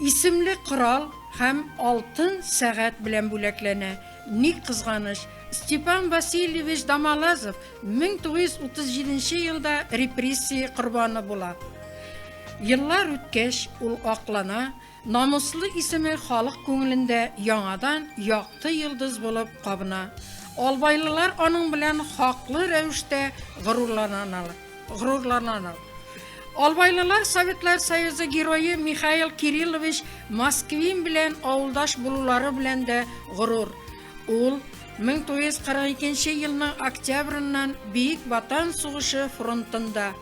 исемле корал һәм алтын сәгать белән бүләкләнә. Ни кызганыч, Степан Васильевич Домолазов 1937 елда репрессия корбаны була. Еллар үткәч, ул аклана, Намуслы исеме халык күңелендә яңадан якты йолдыз булып кабына. Албайлылар аның белән хаклы рәвештә горурланалар. Горурланалар. Албайлылар Советлар Союзы Герое Михаил Кириллович Москвин белән авылдаш булулары белән дә горур. Ул 1942 елның октябреннан Биек Ватан сугышы фронтында.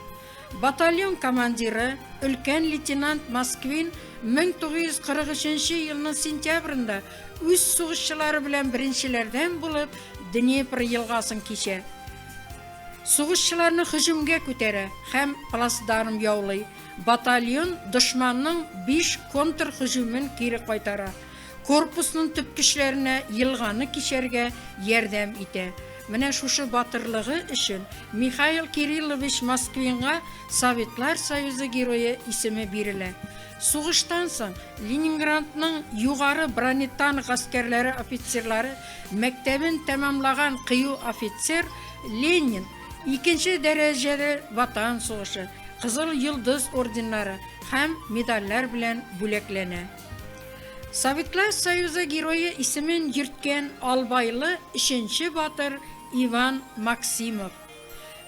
Батальон командиры, өлкән лейтенант Москвин 1943 елның сентябрендә үз сугышчылары белән беренчеләрдән булып Днепр елгасын кичә. Сугышчыларны һөҗүмгә күтәрә һәм плацдарм яулый. Батальон дошманның биш контрһөҗүмен кире кайтара. Корпусның төп көчләренә елганы кичәргә ярдәм итә. Менә шушы батырлыгы өчен Михаил Кириллович Москвинга Советлар Союзы Герое исеме бирелә. Сугыштан соң Ленинградның югары бронетанк гаскәрләре офицерлары мәктәбен тәмамлаган кыю офицер Ленин икенче дәрәҗәле Ватан сугышы, Кызыл Йолдыз орденнары һәм медальләр белән бүләкләнә. Советлар Союзы Герое исемен йөрткән Албайлы өченче батыр Иван Максимов.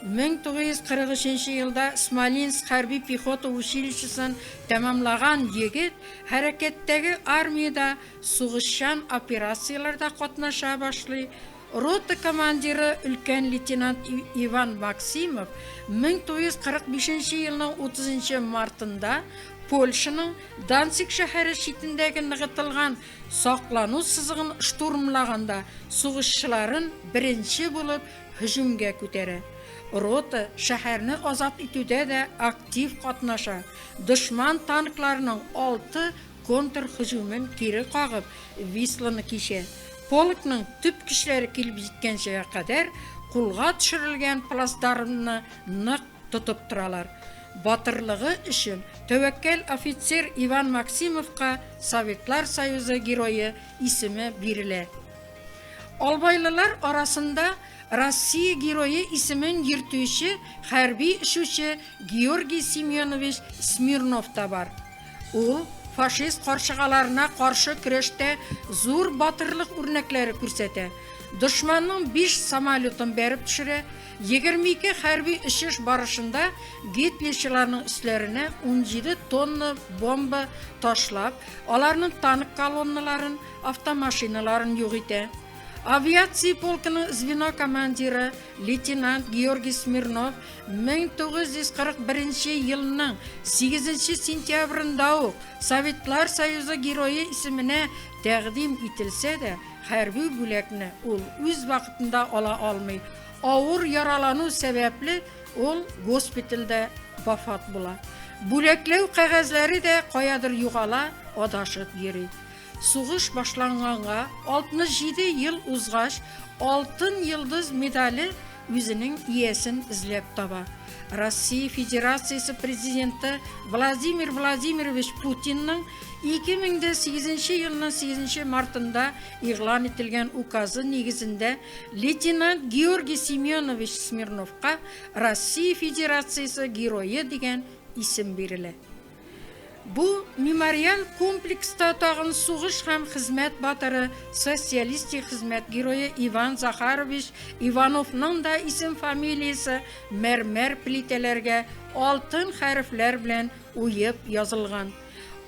1943 елда Смолинск хәрби пехота училищесын тәмамлаган егет хәрәкәттәге армиядә сугышчан операцияләрдә катнаша башлый, Рота командиры өлкән лейтенант Иван Максимов 1945 нче елның 30 нчы мартында Польшаның Данциг шәһәре читендәге ныгытылган саклану сызыгын штурмлаганда сугышчыларын беренче булып һөҗүмгә күтәрә. Рота шәһәрне азат итүдә дә актив катнаша, дошман танкларының алты контрһөҗүмен кире кагып, Висланы кичә, полкның төп көчләре килеп җиткәнчегә кадәр кулга төшерелгән плацдармны нык тотып торалар. Батырлыгы өчен тәвәккәл офицер Иван Максимовка Советлар Союзы Герое исеме бирелә. Албайлылар арасында Россия Герое исемен йөртүче хәрби очучы Георгий Семенович Смирнов та бар. Ул фашист каршыгаларына каршы көрәштә зур батырлык үрнәкләре күрсәтә. Дошманның биш самолетын бәреп төшерә, 22 хәрби очыш барышында гитлерчыларның өсләренә 17 тонна бомба ташлап, аларның танк колонналарын, автомашиналарын юк итә. Авиация полкының звено командиры лейтенант Георгий Смирнов 1941 елның 8 нче сентябрендә үк Советлар Союзы Герое исеменә тәкъдим ителсә дә, хәрби бүләкне ул үз вакытында ала алмый, авыр яралану сәбәпле, ул госпитальдә вафат була. Бүләкләү кәгазьләре дә каядыр югала, адашып йөри. Сугыш башланганга 67 ел узгач, Алтын Йолдыз медале үзенең иясен эзләп таба. Россия Федерациясе Президенты Владимир Владимирович Путинның 2008 нче елның 8 нче мартында игълан ителгән Указы нигезендә лейтенант Георгий Семенович Смирновка Россия Федерациясе Герое дигән исем бирелә. Бу мемориаль комплекста тагын сугыш һәм хезмәт батыры, социалистик хезмәт герое Иван Захарович Ивановның да исем-фамилиясе мәрмәр плитәләргә алтын хәрефләр белән уеп язылган.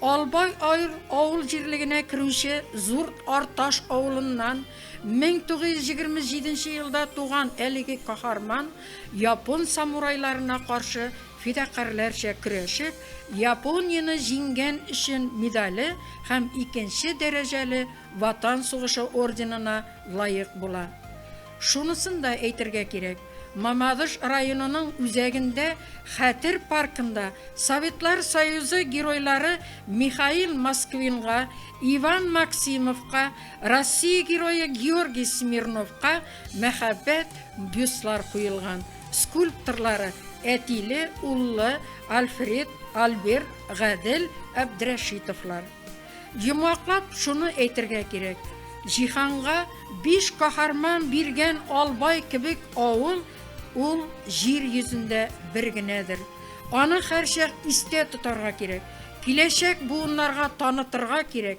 Албай Айр авыл җирлегенә керүче Зур Арташ авылыннан 1927 елда туган әлеге каһарман япон самурайларына каршы Фидакарьләрчә көрәшеп, Японияне җиңгән өчен медале һәм икенче дәрәҗәле Ватан сугышы орденына лаек була. Шунысын да әйтергә кирәк, Мамадыш районының үзәгендә Хәтер паркында Советлар Союзы Геройлары Михаил Москвинга, Иван Максимовка, Россия Герое Георгий Смирновка, Мәхәббәт бюстлар куелган скульпторлары Әтиле, Уллы, Альфред, Альберт, Гадел, Әбдрәшитовлар. Йомгаклап шуны әйтергә кирәк, җиһанга биш каһарман биргән Албай кебек авыл ул җир йөзендә бер генәдер. Аны һәрчак истә тотарга кирәк, киләчәк буыннарга танытырга кирәк.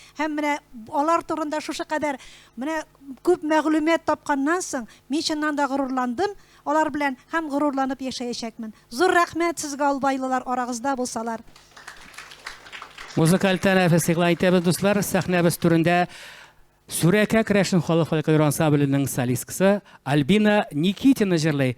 Һәм менә алар турында шушы кадәр менә күп мәгълүмат тапканнан соң, мин чыннан да горурландым алар белән һәм горурланып яшәячәкмен. Зур рәхмәт сезгә албайлылар, арагызда булсалар. Музыкаль тәнәфес игълан итәбез, дуслар. Сәхнәбез түрендә Сүрәкә керәшен халык фольклор ансамбленең солисткасы Альбина Никитина җырлый.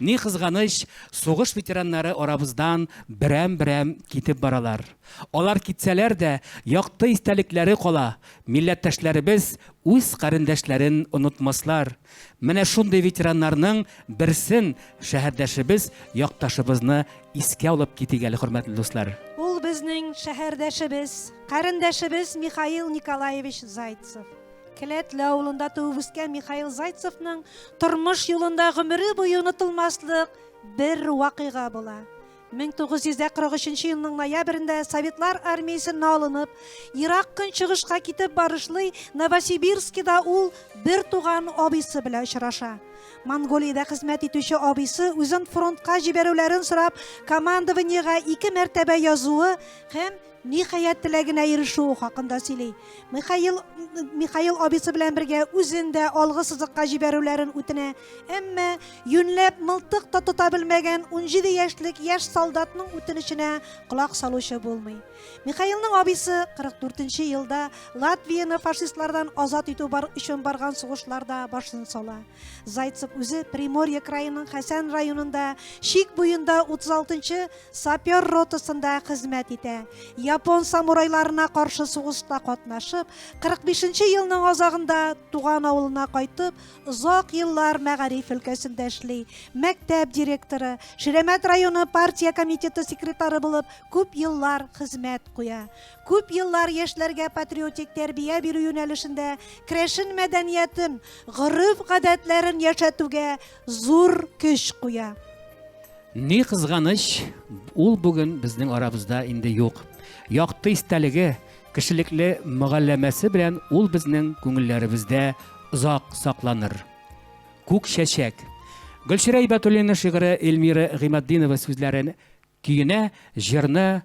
Ни кызганыч, сугыш ветераннары арабыздан берәм-берәм китеп баралар. Алар китсәләр дә, якты истәлекләре кала, милләттәшләребез үз карендәшләрен онытмаслар. Менә шундый ветераннарның берсен, шәһәрдәшебез, якташыбызны искә алып китик әле, хөрмәтле дуслар. Ул безнең шәһәрдәшебез, карендәшебез Михаил Николаевич Зайцев. Келәтле авылында туып үскән Михаил Зайцевның тормыш юлында гомере буе онытылмаслык бер вакыйга була. 1943 елның ноябрендә Советлар армиясенә алынып, Ирак көнчыгышка китеп барышлый Новосибирскида ул бер туган абыйсы белән очраша. Монголиядә хезмәт итүче абыйсы үзен фронтка җибәрүләрен сорап командованиегә ике мәртәбә язуы һәм Ниһаять, теләгенә ирешү хакында сөйли. Михаил, Михаил абисы белән бергә үзен дә алгы сызыкка җибәрүләрен үтенә. Әмма юньләп мылтык та тота белмәгән 17 яшьлек яшь солдатның үтенеченә колак салучы булмый. Михаилның абисы 44 елда Латвияне фашистлардан азат итү бар өчен барган сугышларда башын сала. Зайцев үзе Приморье краеның Хәсән районында, Шик буенда 36 Сапер ротасында хезмәт итә. Япон самурайларына каршы сугышта катнашып, 45 нче елның азагында туган авылына кайтып, озак еллар мәгариф өлкәсендә эшли. Мәктәп директоры, Ширәмәт районы партия комитеты секретары булып күп еллар хезмәт куя. Күп еллар яшьләргә патриотик тәрбия бирү юнәлешендә керәшен мәдәниятен, гореф-гадәтләрен яшәтүгә зур көч куя. Ни кызганыч, ул бүген безнең арабызда инде юк. Якты истәлеге, кешелекле мөгалләмәсе белән ул безнең күңелләребездә озак сакланыр. Күк чәчәк. Гөлчирә Ибәтуллина шигыре Эльмира Гыйматдинова сүзләрен көенә, җырны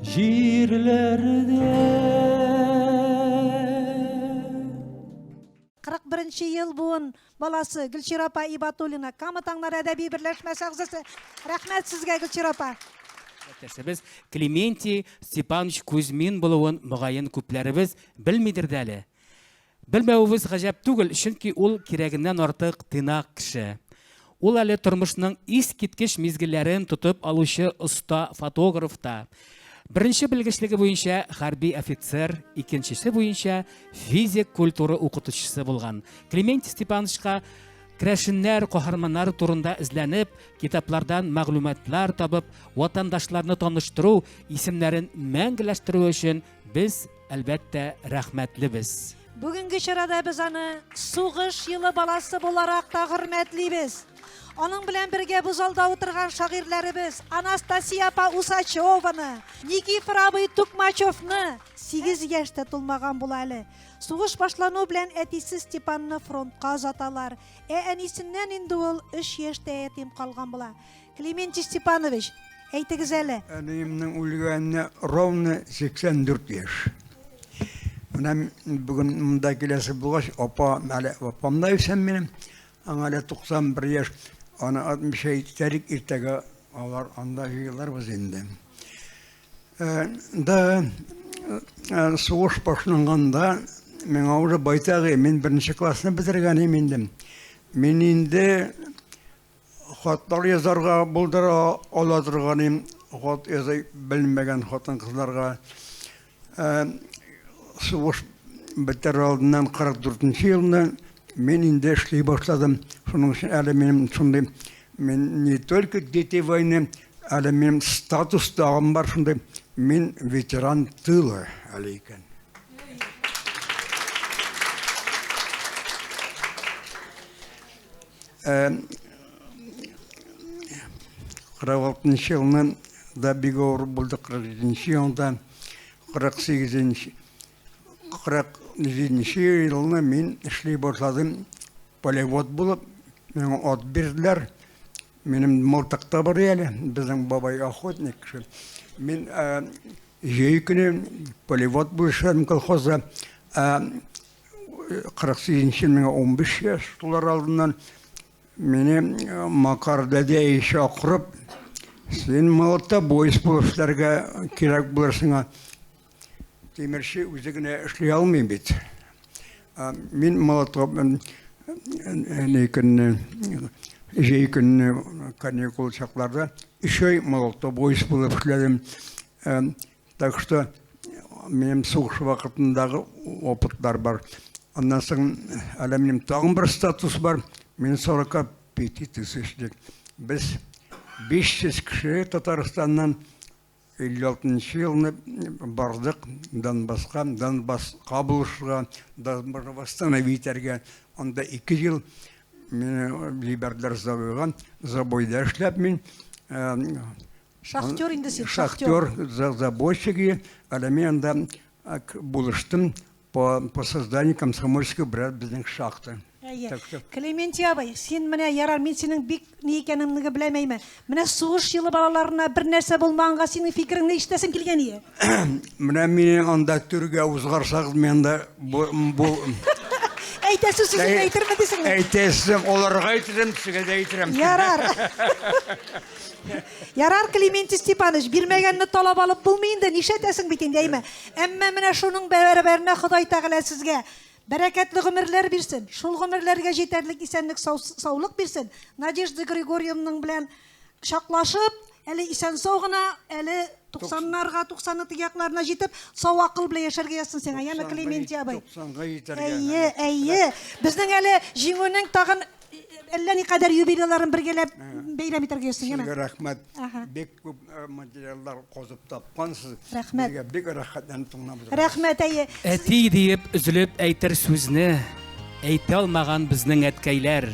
Җирләрдә 41 нче ел буын баласы Гөлчира апа Ибатуллина, Кама таңнары әдәби берләшмәсе әгъзасы. Рәхмәт сезгә, Гөлчира апа. Әтәсебез Клементий Степанович Кузьмин булуын мөгаен күпләребез белмидер дә әле. Белмәвебез гаҗәп түгел, чөнки ул кирәгеннән артык тыйнак кеше. Ул әле тормышның искиткеч мизгелләрен тотып алучы оста фотограф та. Беренче белгечлеге буенча хәрби офицер, икенчесе буенча физик культура укытучысы булган. Клементий Степановичка Крәшеннәр, каһарманнары турында эзләнеп, китаплардан мәгълүматлар табып, ватандашларны таныштыру, исемнәрен мәңгеләштерү өчен Без, әлбәттә, рәхмәтлебез. Бүгенге чарада без аны сугыш елы баласы буларак та хөрмәтлибез. Аның белән бергә бу залда утырган шагыйрьләребез Анастасия апа Усачеваны, Никифор абый Тукмачевны, 8 яшьтә тулмаган була әле. Сугыш башлану белән әтисе Степанны фронтка озаталар. Ә әнисеннән инде ул 3 яшьтә ятим калган була. Клементий Степанович, әйтегез әле. Әниемнең үлгәненә ровно 84 яшь. Менә бүген монда киләсе булгач, апа, әле апам да исән минем. Аңа әле 91 яшь. Аны атмыйча китәлек, иртәгә алар анда җыелырбыз инде. Э, да э, сугыш башланганда миңа уже байтагы, мин беренче классны бетергән идем инде. Мин инде Хатлар язарга булдыра ала торганым, хат яза белмәгән хатын-кызларга. Ә сугыш бетәр алдыннан 44 нче елны мин инде эшли башладым. Шуның өчен әле минем шундый мин не только дети войны, әле минем статус тагын бар шундый, мин ветеран тыла әле икән. 46-нчы елны да бик авыр булды, 47-нче елда, 48-нче, 47-нче елны мин эшли башладым полевод булып, миңа ат бирделәр. Минем мылтыкта бар әле, безнең бабай охотник кеше. Мин җәй көне полевод булышам колхозда. Кырык сигезенче миңа унбиш яшь тулар алдыннан мине Макар дәдә чакырып, син молотобоец булып эшләргә кирәк булыр сиңа. Тимерче үзе генә эшли алмый бит. Мин молото ни көнне, җәй көнне каникул чакларда өч ай молотобоец булып эшләдем. Так что минем сугыш вакытындагы опытлар бар. Аннан соң әле минем тагын бер статус бар. Мин 45 петитис эшлик. Без 500 кеше Татарстаннан 56 елны бардык Донбасска, Донбасс кабылышырга, Донбасс восстановить итәргә. Анда 2 ел мине җибәрделәр забойга. Забойда эшләп мин Шахтер инде син, шахтер. Шахтер, за забойщик и, әле мин анда ак булыштым по по созданию комсомольской брат безнең шахта. Әйе. Так что- Клементий абый, син менә ярар, мин синең бик ни икәнеңне беләмәйме. Менә сугыш елы балаларына бернәрсә булмаганга синең фикереңне ишетәсем килгән ие. Менә мине анда төргә узгарсагыз, мин анда бу, бу Әйтәсе сүзен Әй- әйтерме дисең? әйтәсем, оларга әйтәсем, сиңа да әйтәм. Ярар. Ярар, Климентий Степанович, бирмәгәнне талап алып булмый инде, нишләтәсең бит инде, әйме. Әмма менә шуның бәрабәренә Ходай Тәгалә сезгә бәрәкәтле гомерләр бирсен. Шул гомерләргә җитәрлек исәнлек, сау- саулык бирсен. Надежда Григорьевнаның белән Чаклашып, әле исән-сау гына, әле туксаннарга, туксанның теге якларына җитеп, сау акыл белән яшәргә язсын сиңа, яме Клементий абый. Туксанга җитәргә. Әйе, әйе. Безнең әле җиңүнең тагын әллә никадәр юбилейларын бергәләп бәйрәм итәргә язсын, яме. Сезгә рәхмәт. Бик күп Еллар казып тапкансыз. Рәхмәт. Безгә бик рәхәтләнеп тыңлап Рәхмәт, әйе. Әти диеп өзелеп әйтер сүзне әйтә алмаган безнең әткәйләр.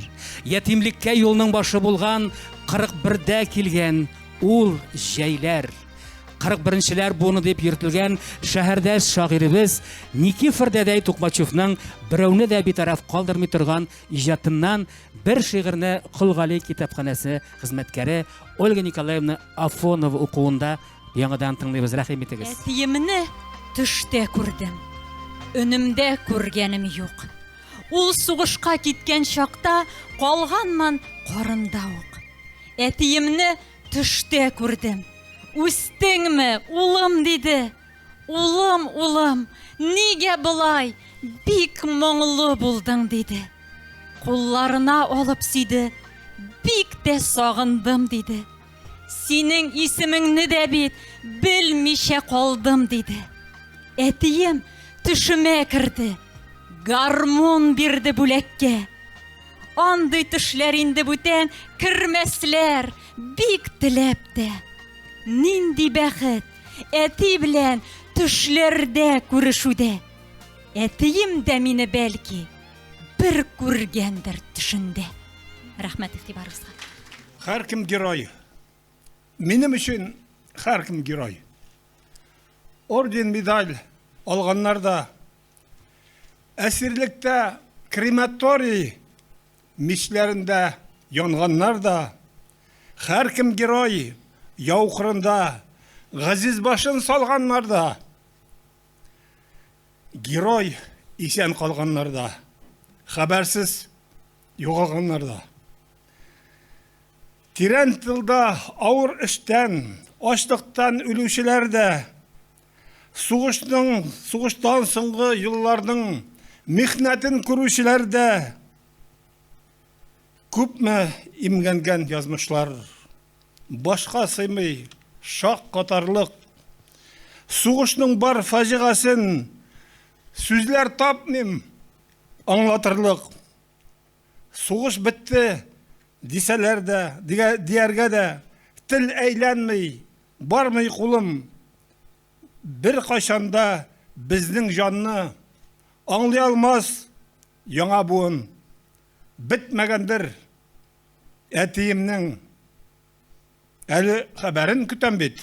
Ятимлеккә юлның башы булган 41дә килгән ул җәйләр. 41-нчеләр буыны дип йөртелгән шәһәрдәш шагыйребез Никифор дәдәй Тукмачевның берәүне дә битараф калдырмый торган иҗатыннан бер шигырьне Колгали китапханәсе хезмәткәре Ольга Николаевна Афонов укуында яңадан тыңлыйбыз, рәхим итегез. Әтиемне төштә күрдем. Өнемдә күргәнем юк. Ул сугышка киткән чакта калганман карында ук. Әтиемне төштә күрдем. Үстеңме, улым, диде. Улым, улым, нигә болай бик моңлы булдың, диде. Кулларына алып сөйде, бик тә сагындым, диде. Синең исемеңне дә бит белмичә калдым, диде. Әтием төшемә керде, гармун бирде бүләккә. Андый төшләр инде бүтән кермәсләр, бик теләп тә. Нинди бәхет! Әти белән төшләрдә күрешүдә. Әтием дә мине бәлки бер күргәндер төшендә. Рәхмәт игътибарыгызга. Һәркем герой. Минем өчен һәркем герой. Орден, медаль алганнар да әсирлектә крематорий Мичләрендә янганнар да, Һәркем герой яу кырында, Газиз башын салганнар да, Герой исән калганнар да, Хәбәрсез югалганнар да. Тирән тылда авыр эштән, Ачлыктан үлүчеләр дә, Сугышның, сугыштан соңгы елларның михнәтен күрүчеләр дә күпме имгәнгән язмышлар. Башка сыймый, шак катарлык. Сугышның бар фаҗигасын сүзләр тапмыйм аңлатырлык. Сугыш бетте, дисәләр дә, дияргә дә тел әйләнми, бармый кулым. Беркайчан да безнең җанны аңлый алмас яңа буын. Бетмәгәндер әтиемнең әле хәбәрен көтәм бит.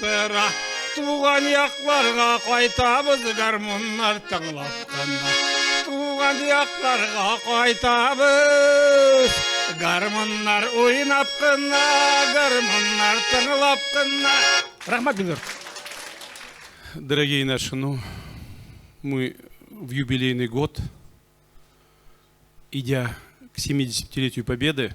Тыра, туган якларга кайтабыз гармуннар тыңлап кына. Туган якларга кайтабыз. Гармуннар уйнап кына, гармуннар тыңлап кына. Рәхмәт бик Дорогие наши, ну, мы в юбилейный год, идя к 70-летию Победы,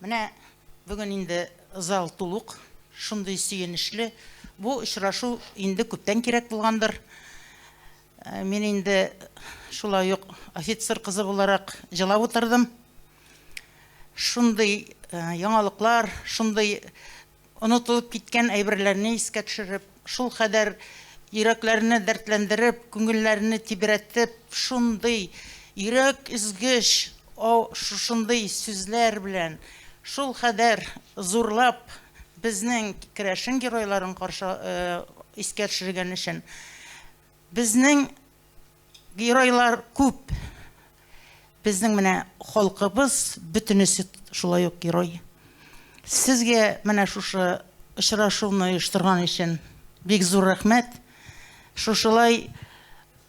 Менә бүген инде зал тулук, шундый сөенечле. Бу очрашу инде күптән кирәк булгандыр. Мин инде шулай ук офицер кызы буларак җылап утырдым. Шундый яңалыклар, шундый Онытылып киткән әйберләрне искә төшереп, шулкадәр йөрәкләрне дәртләндереп, күңелләрне тибрәтеп, шундый йөрәк өзгеч, о, шушындый сүзләр белән, шулкадәр зурлап безнең керәшен геройларын каршы искә төшергән өчен Безнең геройлар күп. Безнең менә халкыбыз бөтенесе шулай ук герой. Сезгә менә шушы очрашуны оештырган өчен бик зур рәхмәт. Шушылай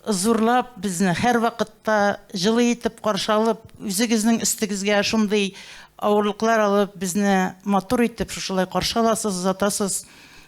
зурлап безне һәрвакытта җылы итеп каршы алып, үзегезнең өстегезгә шундый авырлыклар алып, безне матур итеп шушылай каршы аласыз, озатасыз.